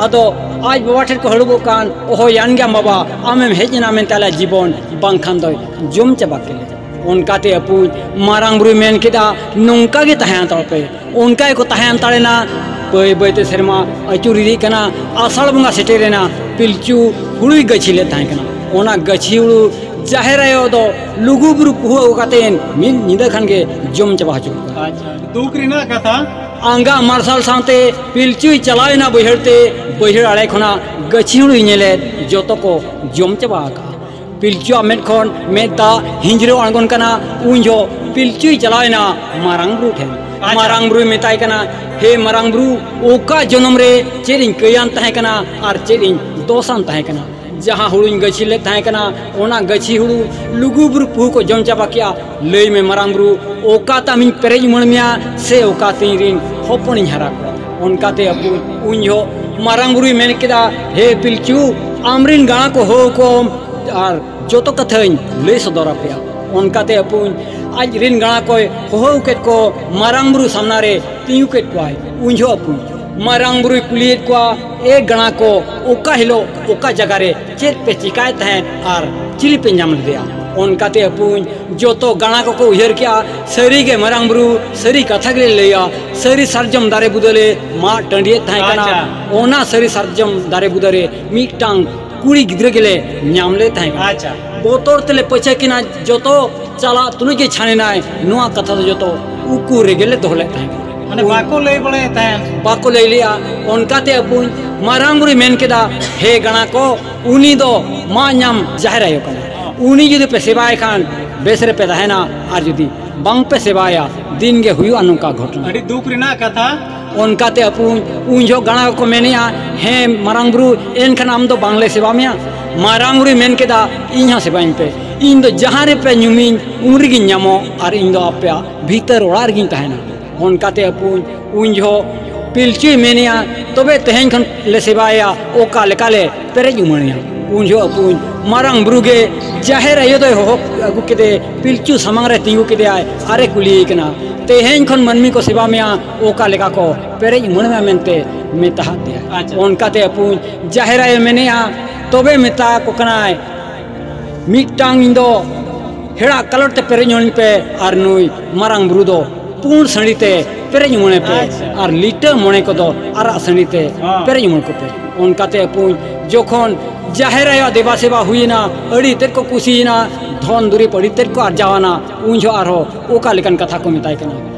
ᱟᱫᱚ ᱟᱡ ᱵᱟᱵᱟ ᱴᱷᱮᱱ ᱠᱚ ᱦᱟᱹᱲᱩᱵᱚᱜ ᱠᱟᱱ ᱚᱦᱚᱭᱟᱱ ᱜᱮᱭᱟᱢ ᱵᱟᱵᱟ ᱟᱢᱮᱢ ᱦᱮᱡ ᱮᱱᱟ ᱢᱮᱱᱛᱮ ᱟᱞᱮᱭᱟᱜ ᱡᱤᱵᱚᱱ ᱵᱟᱝᱠᱷᱟᱱ ᱫᱚᱭ ᱡᱚᱢ ᱪᱟᱵᱟ ᱠᱮᱫ ᱞᱮᱭᱟ ᱚᱱᱠᱟᱛᱮ ᱟᱹᱯᱩᱡ ᱢᱟᱨᱟᱝ ᱵᱩᱨᱩᱭ ᱢᱮᱱ ᱠᱮᱫᱟ ᱱᱚᱝᱠᱟ ᱜᱮ ᱛᱟᱦᱮᱸ ᱦᱟᱛᱟᱲᱚᱜ ᱯᱮ ᱚᱱᱠᱟ ᱜᱮᱠᱚ ᱛᱟᱦᱮᱸ ᱦᱟᱛᱟᱲᱮᱱᱟ ᱵᱟᱹᱭ ᱵᱟᱹᱭᱛᱮ ᱥᱮᱨᱢᱟ ᱟᱹᱪᱩᱨ ᱤᱫᱤᱜ ᱠᱟᱱᱟ ᱟᱥᱟᱲ ᱵᱚᱸᱜᱟ ᱥᱮᱴᱮᱨᱮᱱᱟ ᱯᱤᱞᱪᱩ ᱦᱩᱲᱩᱭ ᱜᱟᱹᱪᱷᱤ ᱞᱮᱫ ᱛᱟᱦᱮᱸ ᱠᱟᱱᱟ ᱚᱱᱟ ᱜᱟᱹᱪᱷᱤ ᱦᱩᱲᱩ ᱡᱟᱦᱮᱨ ᱟᱭᱳ ᱫᱚ ᱞᱩᱜᱩ ᱵᱩᱨᱩ ᱯᱩᱦᱩ ᱟᱹᱜᱩ ᱠᱟᱛᱮᱫ ᱢᱤᱫ ᱧᱤᱫᱟᱹ ᱠᱷᱟᱱ ᱜᱮ ᱡᱚᱢ ᱪᱟᱵᱟ ᱦᱚᱪᱚ ᱠᱮᱫ ᱠᱚᱣᱟ ᱫᱩᱠ ᱨᱮᱱᱟᱜ ᱠᱟᱛᱷᱟ ᱟᱸᱜᱟ ᱢᱟᱨᱥᱟᱞ ᱥᱟᱶᱛᱮ ᱯᱤᱞᱪᱩᱭ ᱪᱟᱞᱟᱣ ᱮᱱᱟ ᱵᱟᱹᱭᱦᱟᱹᱲ ᱛᱮ ᱵᱟᱹᱭᱦᱟᱹᱲ ᱟᱲᱮ ᱠᱷᱚᱱᱟᱜ ᱜᱟᱹᱪᱷᱤ ᱦᱩᱲᱩᱭ ᱧᱮᱞᱮᱫ ᱡᱚᱛᱚ ᱠᱚ ᱡᱚᱢ ᱪᱟᱵᱟ ᱟᱠᱟᱫᱼᱟ ᱯᱤᱞᱪᱩᱣᱟᱜ ᱢᱮᱫ ᱠᱷᱚᱱ ᱢᱮᱫ ᱫᱟᱜ ᱦᱤᱸᱡᱽᱨᱟᱹᱣ ᱟᱬᱜᱚᱱ ᱠᱟᱱᱟ ᱩᱱ ᱡᱚᱦᱚᱜ ᱯᱤᱞᱪᱩᱭ ᱪᱟᱞᱟᱣ ᱮᱱᱟ ᱢᱟᱨᱟᱝ ᱵᱩᱨᱩ ᱴᱷᱮᱱ ᱢᱟᱨᱟᱝ ᱵᱩᱨᱩᱭ ᱢᱮᱛᱟᱭ ᱠᱟᱱᱟ ᱦᱮ ᱢᱟᱨᱟᱝ ᱵᱩᱨᱩ ᱚᱠᱟ ᱡᱚᱱᱚᱢ ᱨᱮ ᱪᱮᱫ ᱤᱧ ᱠᱟᱹᱭᱟᱱ ᱛᱟᱦᱮᱸ ᱠᱟᱱᱟ ᱟᱨ ᱪᱮᱫ ᱤᱧ ᱫᱚᱥᱟᱱ ᱛᱟᱦᱮᱸ ᱠᱟᱱᱟ ᱡᱟᱦᱟᱸ ᱦᱩᱲᱩᱧ ᱜᱟᱹᱪᱷᱤ ᱞᱮᱫ ᱛᱟᱦᱮᱸ ᱠᱟᱱᱟ ᱚᱱᱟ ᱜᱟᱹᱪᱷᱤ ᱦᱩᱲᱩ ᱞᱩᱜᱩ ᱵᱩᱨᱩ ᱯᱩᱦᱩ ᱠᱚ ᱡᱚᱢ ᱪᱟᱵᱟ ᱠᱮᱫᱼᱟ ᱞᱟᱹᱭ ᱢᱮ ᱢᱟᱨᱟᱝ ᱵᱩᱨᱩ ᱚᱠᱟ ᱛᱟᱢ ᱤᱧ ᱯᱮᱨᱮᱡ ᱩᱢᱟᱹᱬ ᱢᱮᱭᱟ ᱥᱮ ᱚᱠᱟ ᱛᱮ ᱤᱧ ᱨᱤᱱ ᱦᱚᱯᱚᱱᱤᱧ ᱦᱟᱨᱟ ᱠᱚᱣᱟ ᱚᱱᱠᱟ ᱛᱮ ᱟᱵᱚ ᱩᱱ ᱡᱚᱦᱚᱜ ᱢᱟᱨᱟᱝ ᱵᱩᱨᱩᱭ ᱢᱮᱱ ᱠᱮᱫᱟ ᱦᱮ ᱯᱤᱞᱪᱩ ᱟᱢ ᱨᱤᱱ ᱜᱟᱬᱟ ᱠᱚ ᱦᱚᱦᱚ ᱟᱠᱚᱢ ᱟᱨ ᱡᱚᱛᱚ ᱠᱟᱛᱷᱟᱧ ᱞᱟᱹᱭ ᱥᱚᱫᱚᱨ ᱟᱯᱮᱭᱟ ᱚᱱᱠᱟ ᱛᱮ ᱟᱵᱚ ᱟᱡ ᱨᱤᱱ ᱜᱟᱬᱟ ᱠᱚᱭ ᱦᱚᱦᱚ ᱠᱮᱫ ᱠᱚ ᱢᱟᱨᱟᱝ ᱵᱩᱨᱩ ᱥᱟᱢᱱᱟ ᱨᱮ ᱛᱤᱸᱜᱩ ᱠᱮᱫ ᱠᱚᱣᱟᱭ ᱩᱱ ᱡᱚᱦᱚᱜ ᱟᱵᱚ ᱢᱟᱨᱟᱝ ᱵᱩᱨᱩᱭ ᱠᱩᱞᱤᱭᱮᱫ ᱠᱚᱣᱟ ᱮ ᱜᱟᱬᱟ ᱠᱚ ᱚᱠᱟ ᱦᱤᱞᱳᱜ ᱚᱠᱟ ᱡᱟᱭᱜᱟ ᱨᱮ ᱪᱮᱫ ᱯᱮ ᱪᱤᱠᱟᱭ ᱛᱟᱦᱮᱸᱫ ᱟᱨ ᱪᱤᱞᱤ ᱯᱮ ᱧᱟᱢ ᱞᱮᱫᱮᱭᱟ ᱚᱱᱠᱟᱛᱮ ᱟᱹᱯᱩᱧ ᱡᱚᱛᱚ ᱜᱟᱬᱟ ᱠᱚᱠᱚ ᱩᱭᱦᱟᱹᱨ ᱠᱮᱜᱼᱟ ᱥᱟᱹᱨᱤᱜᱮ ᱢᱟᱨᱟᱝ ᱵᱩᱨᱩ ᱥᱟᱹᱨᱤ ᱠᱟᱛᱷᱟ ᱜᱮᱞᱮ ᱞᱟᱹᱭᱟ ᱥᱟᱹᱨᱤ ᱥᱟᱨᱡᱚᱢ ᱫᱟᱨᱮ ᱵᱩᱫᱟᱹᱞᱮ ᱢᱟᱜ ᱴᱟᱺᱰᱤᱭᱮᱫ ᱛᱟᱦᱮᱸ ᱠᱟᱱᱟ ᱚᱱᱟ ᱥᱟᱹᱨᱤ ᱥᱟᱨᱡᱚᱢ ᱫᱟᱨᱮ ᱵᱩᱫᱟᱹᱨᱮ ᱢᱤᱫᱴᱟᱝ ᱠᱩᱲᱤ ᱜᱤᱫᱽᱨᱟᱹ ᱜᱮᱞᱮ ᱧᱟᱢ ᱞᱮ ᱛᱟᱦᱮᱸ ᱠᱟᱱᱟ ᱵᱚᱛᱚᱨ ᱛᱮᱞᱮ ᱯᱟᱹᱪᱷᱟᱹ ᱠᱤᱱᱟ ᱡᱚᱛᱚ ᱪᱟᱞᱟᱜ ᱛᱩᱞᱩᱡ ᱜᱮ ᱪᱷᱟᱱᱮᱱᱟᱭ ᱱᱚᱣᱟ ᱠᱟᱛᱷᱟ ᱫᱚ ᱡᱚᱛᱚ ᱩᱠᱩ ᱨᱮᱜᱮᱞᱮ ᱫᱚᱦᱚ ᱞᱮᱫ ᱛᱟᱦᱮᱸ ᱠᱟᱱᱟ ᱢᱟᱱᱮ ᱵᱟᱠᱚ ᱞᱟᱹᱭ ᱵᱟᱲᱟᱭ ᱛᱟᱦᱮᱸ ᱵᱟᱠᱚ ᱞᱟᱹᱭ ᱞᱮᱭᱟ ᱚᱱᱠᱟᱛᱮ ᱟᱵᱚ ᱢᱟᱨᱟᱝ ᱵᱩᱨᱩᱭ ᱢᱮᱱ ᱠᱮᱫᱟ ᱦᱮ ᱜᱟᱬᱟ ᱠᱚ ᱩᱱᱤ ᱫᱚ ᱢᱟ ᱧᱟᱢ ᱡᱟᱦᱮᱨ ᱟᱭᱳ ᱠᱟᱱᱟ ᱩᱱᱤ ᱡᱩᱫᱤ ᱯᱮ ᱥᱮᱵᱟᱭ ᱠᱷᱟᱱ ᱵᱮᱥ ᱨᱮ ᱯᱮ ᱛᱟᱦᱮᱱᱟ ᱟᱨ ᱡᱩᱫᱤ ᱵᱟᱝ ᱯᱮ ᱥᱮᱵᱟᱭᱟ ᱫᱤᱱ ᱜᱮ ᱦᱩᱭᱩᱜᱼᱟ ᱱᱚᱝᱠᱟ ᱜᱷᱚᱴᱚᱱᱟ ᱟᱹᱰᱤ ᱫᱩᱠ ᱨᱮᱱᱟᱜ ᱠᱟᱛᱷᱟ ᱚᱱᱠᱟᱛᱮ ᱟᱯᱩ ᱩᱱ ᱡᱚᱦᱚᱜ ᱜᱟᱬᱟ ᱠᱚ ᱢᱮᱱᱮᱜᱼᱟ ᱦᱮ ᱢᱟᱨᱟᱝ ᱵᱩᱨᱩ ᱮᱱᱠᱷᱟᱱ ᱟᱢ ᱫᱚ ᱵᱟᱝᱞᱮ ᱥᱮᱵᱟ ᱢᱮᱭᱟ ᱢᱟᱨᱟᱝ ᱵᱩᱨᱩᱭ ᱢᱮᱱ ᱠᱮᱫᱟ ᱤᱧ ᱦᱚᱸ ᱥᱮᱵᱟᱧ ᱯᱮ ᱤᱧ ᱫᱚ ᱡᱟᱦᱟᱸ ᱨᱮᱯᱮ ᱧᱩᱢᱤᱧ ᱩᱱ ᱨᱮᱜᱮᱧ ᱧᱟᱢᱚᱜ ᱟᱨ ᱤᱧ ᱫᱚ ᱟᱯᱮᱭᱟᱜ ᱵᱷᱤᱛᱟᱹᱨ ᱚᱲᱟᱜ ᱨᱮᱜᱤᱧ ᱛᱟᱦᱮᱱᱟ ᱚᱱᱠᱟᱛᱮ ᱟᱹᱯᱩᱧ ᱩᱱ ᱡᱚᱦᱚᱜ ᱯᱤᱞᱪᱩᱭ ᱢᱮᱱᱮᱭᱟ ᱛᱚᱵᱮ ᱛᱮᱦᱮᱧ ᱠᱷᱚᱱ ᱞᱮ ᱥᱮᱵᱟᱭᱮᱭᱟ ᱚᱠᱟ ᱞᱮᱠᱟᱞᱮ ᱯᱮᱨᱮᱡ ᱩᱢᱟᱹᱲᱮᱭᱟ ᱩᱱ ᱡᱚᱦᱚᱜ ᱟᱹᱯᱩᱧ ᱢᱟᱨᱟᱝ ᱵᱩᱨᱩ ᱜᱮ ᱡᱟᱦᱮᱨ ᱟᱭᱳ ᱫᱚᱭ ᱦᱚᱦᱚ ᱟᱹᱜᱩ ᱠᱮᱫᱮ ᱯᱤᱞᱪᱩ ᱥᱟᱢᱟᱝ ᱨᱮ ᱛᱤᱸᱜᱩ ᱠᱮᱫᱮᱭᱟᱭ ᱟᱨᱮ ᱠᱩᱞᱤᱭᱮ ᱠᱟᱱᱟ ᱛᱮᱦᱮᱧ ᱠᱷᱚᱱ ᱢᱟᱹᱱᱢᱤ ᱠᱚ ᱥᱮᱵᱟ ᱢᱮᱭᱟ ᱚᱠᱟ ᱞᱮᱠᱟ ᱠᱚ ᱯᱮᱨᱮᱡ ᱩᱢᱟᱹᱲ ᱢᱮᱭᱟ ᱢᱮᱱᱛᱮ ᱢᱮᱛᱟᱦᱟᱫ ᱫᱮᱭᱟ ᱚᱱᱠᱟᱛᱮ ᱟᱹᱯᱩᱧ ᱡᱟᱦᱮᱨ ᱟᱭᱳᱭ ᱢᱮᱱᱮᱜᱼᱟ ᱛᱚᱵᱮ ᱢᱮᱛᱟ ᱠᱚ ᱠᱟᱱᱟᱭ ᱢᱤᱫᱴᱟᱝ ᱤᱧ ᱫᱚ ᱦᱮᱲᱟᱜ ᱠᱟᱞᱚᱴ ᱛᱮ ᱯᱮᱨᱮᱡ ᱢᱚᱱᱮ ᱯᱮ ᱟᱨ ᱱᱩᱭ ᱢᱟᱨᱟᱝ ᱵᱩᱨᱩ ᱫᱚ ᱯᱩᱸᱰ ᱥᱟᱺᱰᱤ ᱛᱮ ᱯᱮᱨᱮᱡ ᱢᱚᱱᱮ ᱯᱮ ᱟᱨ ᱞᱤᱴᱟᱹ ᱢᱚᱬᱮ ᱠᱚᱫᱚ ᱟᱨᱟᱜ ᱥᱟᱺᱰᱤ ᱛᱮ ᱯᱮᱨᱮᱡ ᱢᱚᱱᱮ ᱠᱚᱯᱮ ᱚᱱᱠᱟᱛᱮ ᱟᱹᱯᱩᱧ ᱡᱚᱠᱷᱚᱱ ᱡᱟᱦᱮᱨ ᱟᱭᱳᱣᱟᱜ ᱫᱮᱵᱟ ᱥᱮᱵᱟ ᱦᱩᱭᱮᱱᱟ ᱟᱹᱰᱤ ᱛᱮᱫ ᱠᱚ ᱠᱩᱥᱤᱭᱮᱱᱟ ᱫᱷᱚᱱ ᱫᱩᱨᱤᱵᱽ ᱟᱹᱰᱤ ᱛᱮᱫ ᱠᱚ ᱟᱨᱡᱟᱣᱟᱱᱟ ᱩᱱ ᱡᱚᱦᱚᱜ ᱟᱨᱦᱚᱸ ᱚᱠᱟ ᱞᱮᱠᱟᱱ ᱠᱟᱛᱷᱟ ᱠᱚ ᱢᱮᱛᱟᱭ ᱠᱟᱱᱟ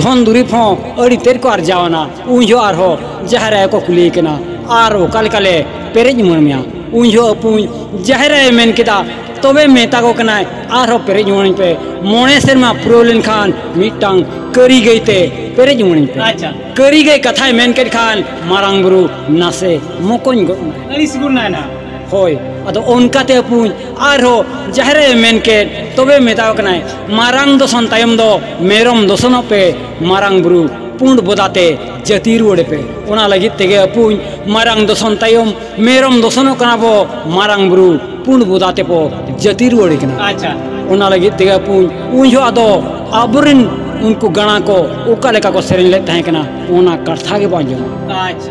ᱫᱷᱚᱱ ᱫᱩᱨᱤᱵᱽ ᱦᱚᱸ ᱟᱹᱰᱤ ᱛᱮᱫ ᱠᱚ ᱟᱨᱡᱟᱣᱟᱱᱟ ᱩᱱ ᱡᱚᱦᱚᱜ ᱟᱨᱦᱚᱸ ᱡᱟᱦᱮᱨ ᱟᱭᱳ ᱠᱚ ᱠᱩᱞᱤᱭᱮ ᱠᱟᱱᱟ ᱟᱨ ᱚᱠᱟ ᱞᱮᱠᱟᱞᱮ ᱯᱮᱨᱮᱡ ᱩᱢᱟᱹᱬ ᱢᱮᱭᱟ ᱩᱱ ᱡᱚᱦᱚᱜ ᱟᱹᱯᱩᱧ ᱡᱟᱦᱮᱨ ᱟᱭᱳᱭ ᱢᱮᱱ ᱠᱮᱫᱟ ᱛᱚᱵᱮ ᱢᱮᱛᱟ ᱠᱚ ᱠᱟᱱᱟᱭ ᱟᱨᱦᱚᱸ ᱯᱮᱨᱮᱡ ᱩᱢᱟᱹᱬᱟᱹᱧ ᱯᱮ ᱢᱚᱬᱮ ᱥᱮᱨᱢᱟ ᱯᱩᱨᱟᱹᱣ ᱞᱮᱱᱠᱷᱟᱱ ᱢᱤᱫᱴᱟᱝ ᱠᱟᱹᱨᱤ ᱜᱟᱹᱭ ᱛᱮ ᱯᱮᱨᱮᱡ ᱩᱢᱟᱹᱬᱟᱹᱧ ᱯᱮ ᱟᱪᱪᱷᱟ ᱠᱟᱹᱨᱤ ᱜᱟᱹᱭ ᱠᱟᱛᱷᱟᱭ ᱢᱮᱱ ᱠᱮᱫ ᱠᱷᱟᱱ ᱢᱟᱨᱟᱝ ᱵᱩᱨᱩ ᱱᱟᱥᱮ ᱢᱚᱠᱚᱧ ᱜᱚᱫ ᱮᱱᱟᱭ ᱟᱹᱲᱤᱥ ᱜᱚᱫ ᱮᱱᱟᱭ ᱱᱟᱦᱟᱜ ᱦᱳᱭ ᱟᱫᱚ ᱚᱱᱠᱟᱛᱮ ᱟᱹᱯᱩᱧ ᱟᱨᱦᱚᱸ ᱡᱟᱦᱮᱨ ᱟᱭᱳᱭ ᱢᱮᱱ ᱠᱮᱫ ᱛᱚᱵᱮ ᱢᱮᱛᱟᱣ ᱠᱟᱱᱟᱭ ᱢᱟᱨᱟᱝ ᱫᱚᱥᱚᱱ ᱛᱟᱭᱚᱢ ᱫᱚ ᱢᱮᱨᱚᱢ ᱫᱚᱥᱚᱱᱚᱜ ᱯᱮ ᱢᱟᱨᱟᱝ ᱵᱩᱨᱩ ᱯᱩᱸᱰ ᱵᱚᱫᱟᱛᱮ ᱡᱟᱹᱛᱤ ᱨᱩᱣᱟᱹᱲᱮ ᱯᱮ ᱚᱱᱟ ᱞᱟᱹᱜᱤᱫ ᱛᱮᱜᱮ ᱟᱹᱯᱩᱧ ᱢᱟᱨᱟᱝ ᱫᱚᱥᱚᱱ ᱛᱟᱭᱚᱢ ᱢᱮᱨᱚᱢ ᱫᱚᱥᱚᱱᱚᱜ ᱠᱟᱱᱟ ᱵᱚ ᱢᱟᱨᱟᱝ ᱵᱩᱨᱩ ᱯᱩᱸᱰ ᱵᱚᱫᱟ ᱛᱮᱵᱚ ᱡᱟᱹᱛᱤ ᱨᱩᱣᱟᱹᱲᱮ ᱠᱟᱱᱟ ᱟᱪᱪᱷᱟ ᱚᱱᱟ ᱞᱟᱹᱜᱤᱫ ᱛᱮᱜᱮ ᱟᱹᱯᱩᱧ ᱩᱱ ᱡᱚᱦᱚᱜ ᱟᱫᱚ ᱟᱵᱚᱨᱮᱱ ᱩᱱᱠᱩ ᱜᱟᱬᱟ ᱠᱚ ᱚᱠᱟ ᱞᱮᱠᱟ ᱠᱚ ᱥᱮᱨᱮᱧ ᱞᱮᱫ ᱛᱟᱦᱮᱸ ᱠᱟᱱᱟ ᱚᱱᱟ ᱠᱟᱛᱷᱟ ᱜᱮᱵᱚ ᱟᱸᱡᱚᱢᱟ ᱟᱪᱪᱷᱟ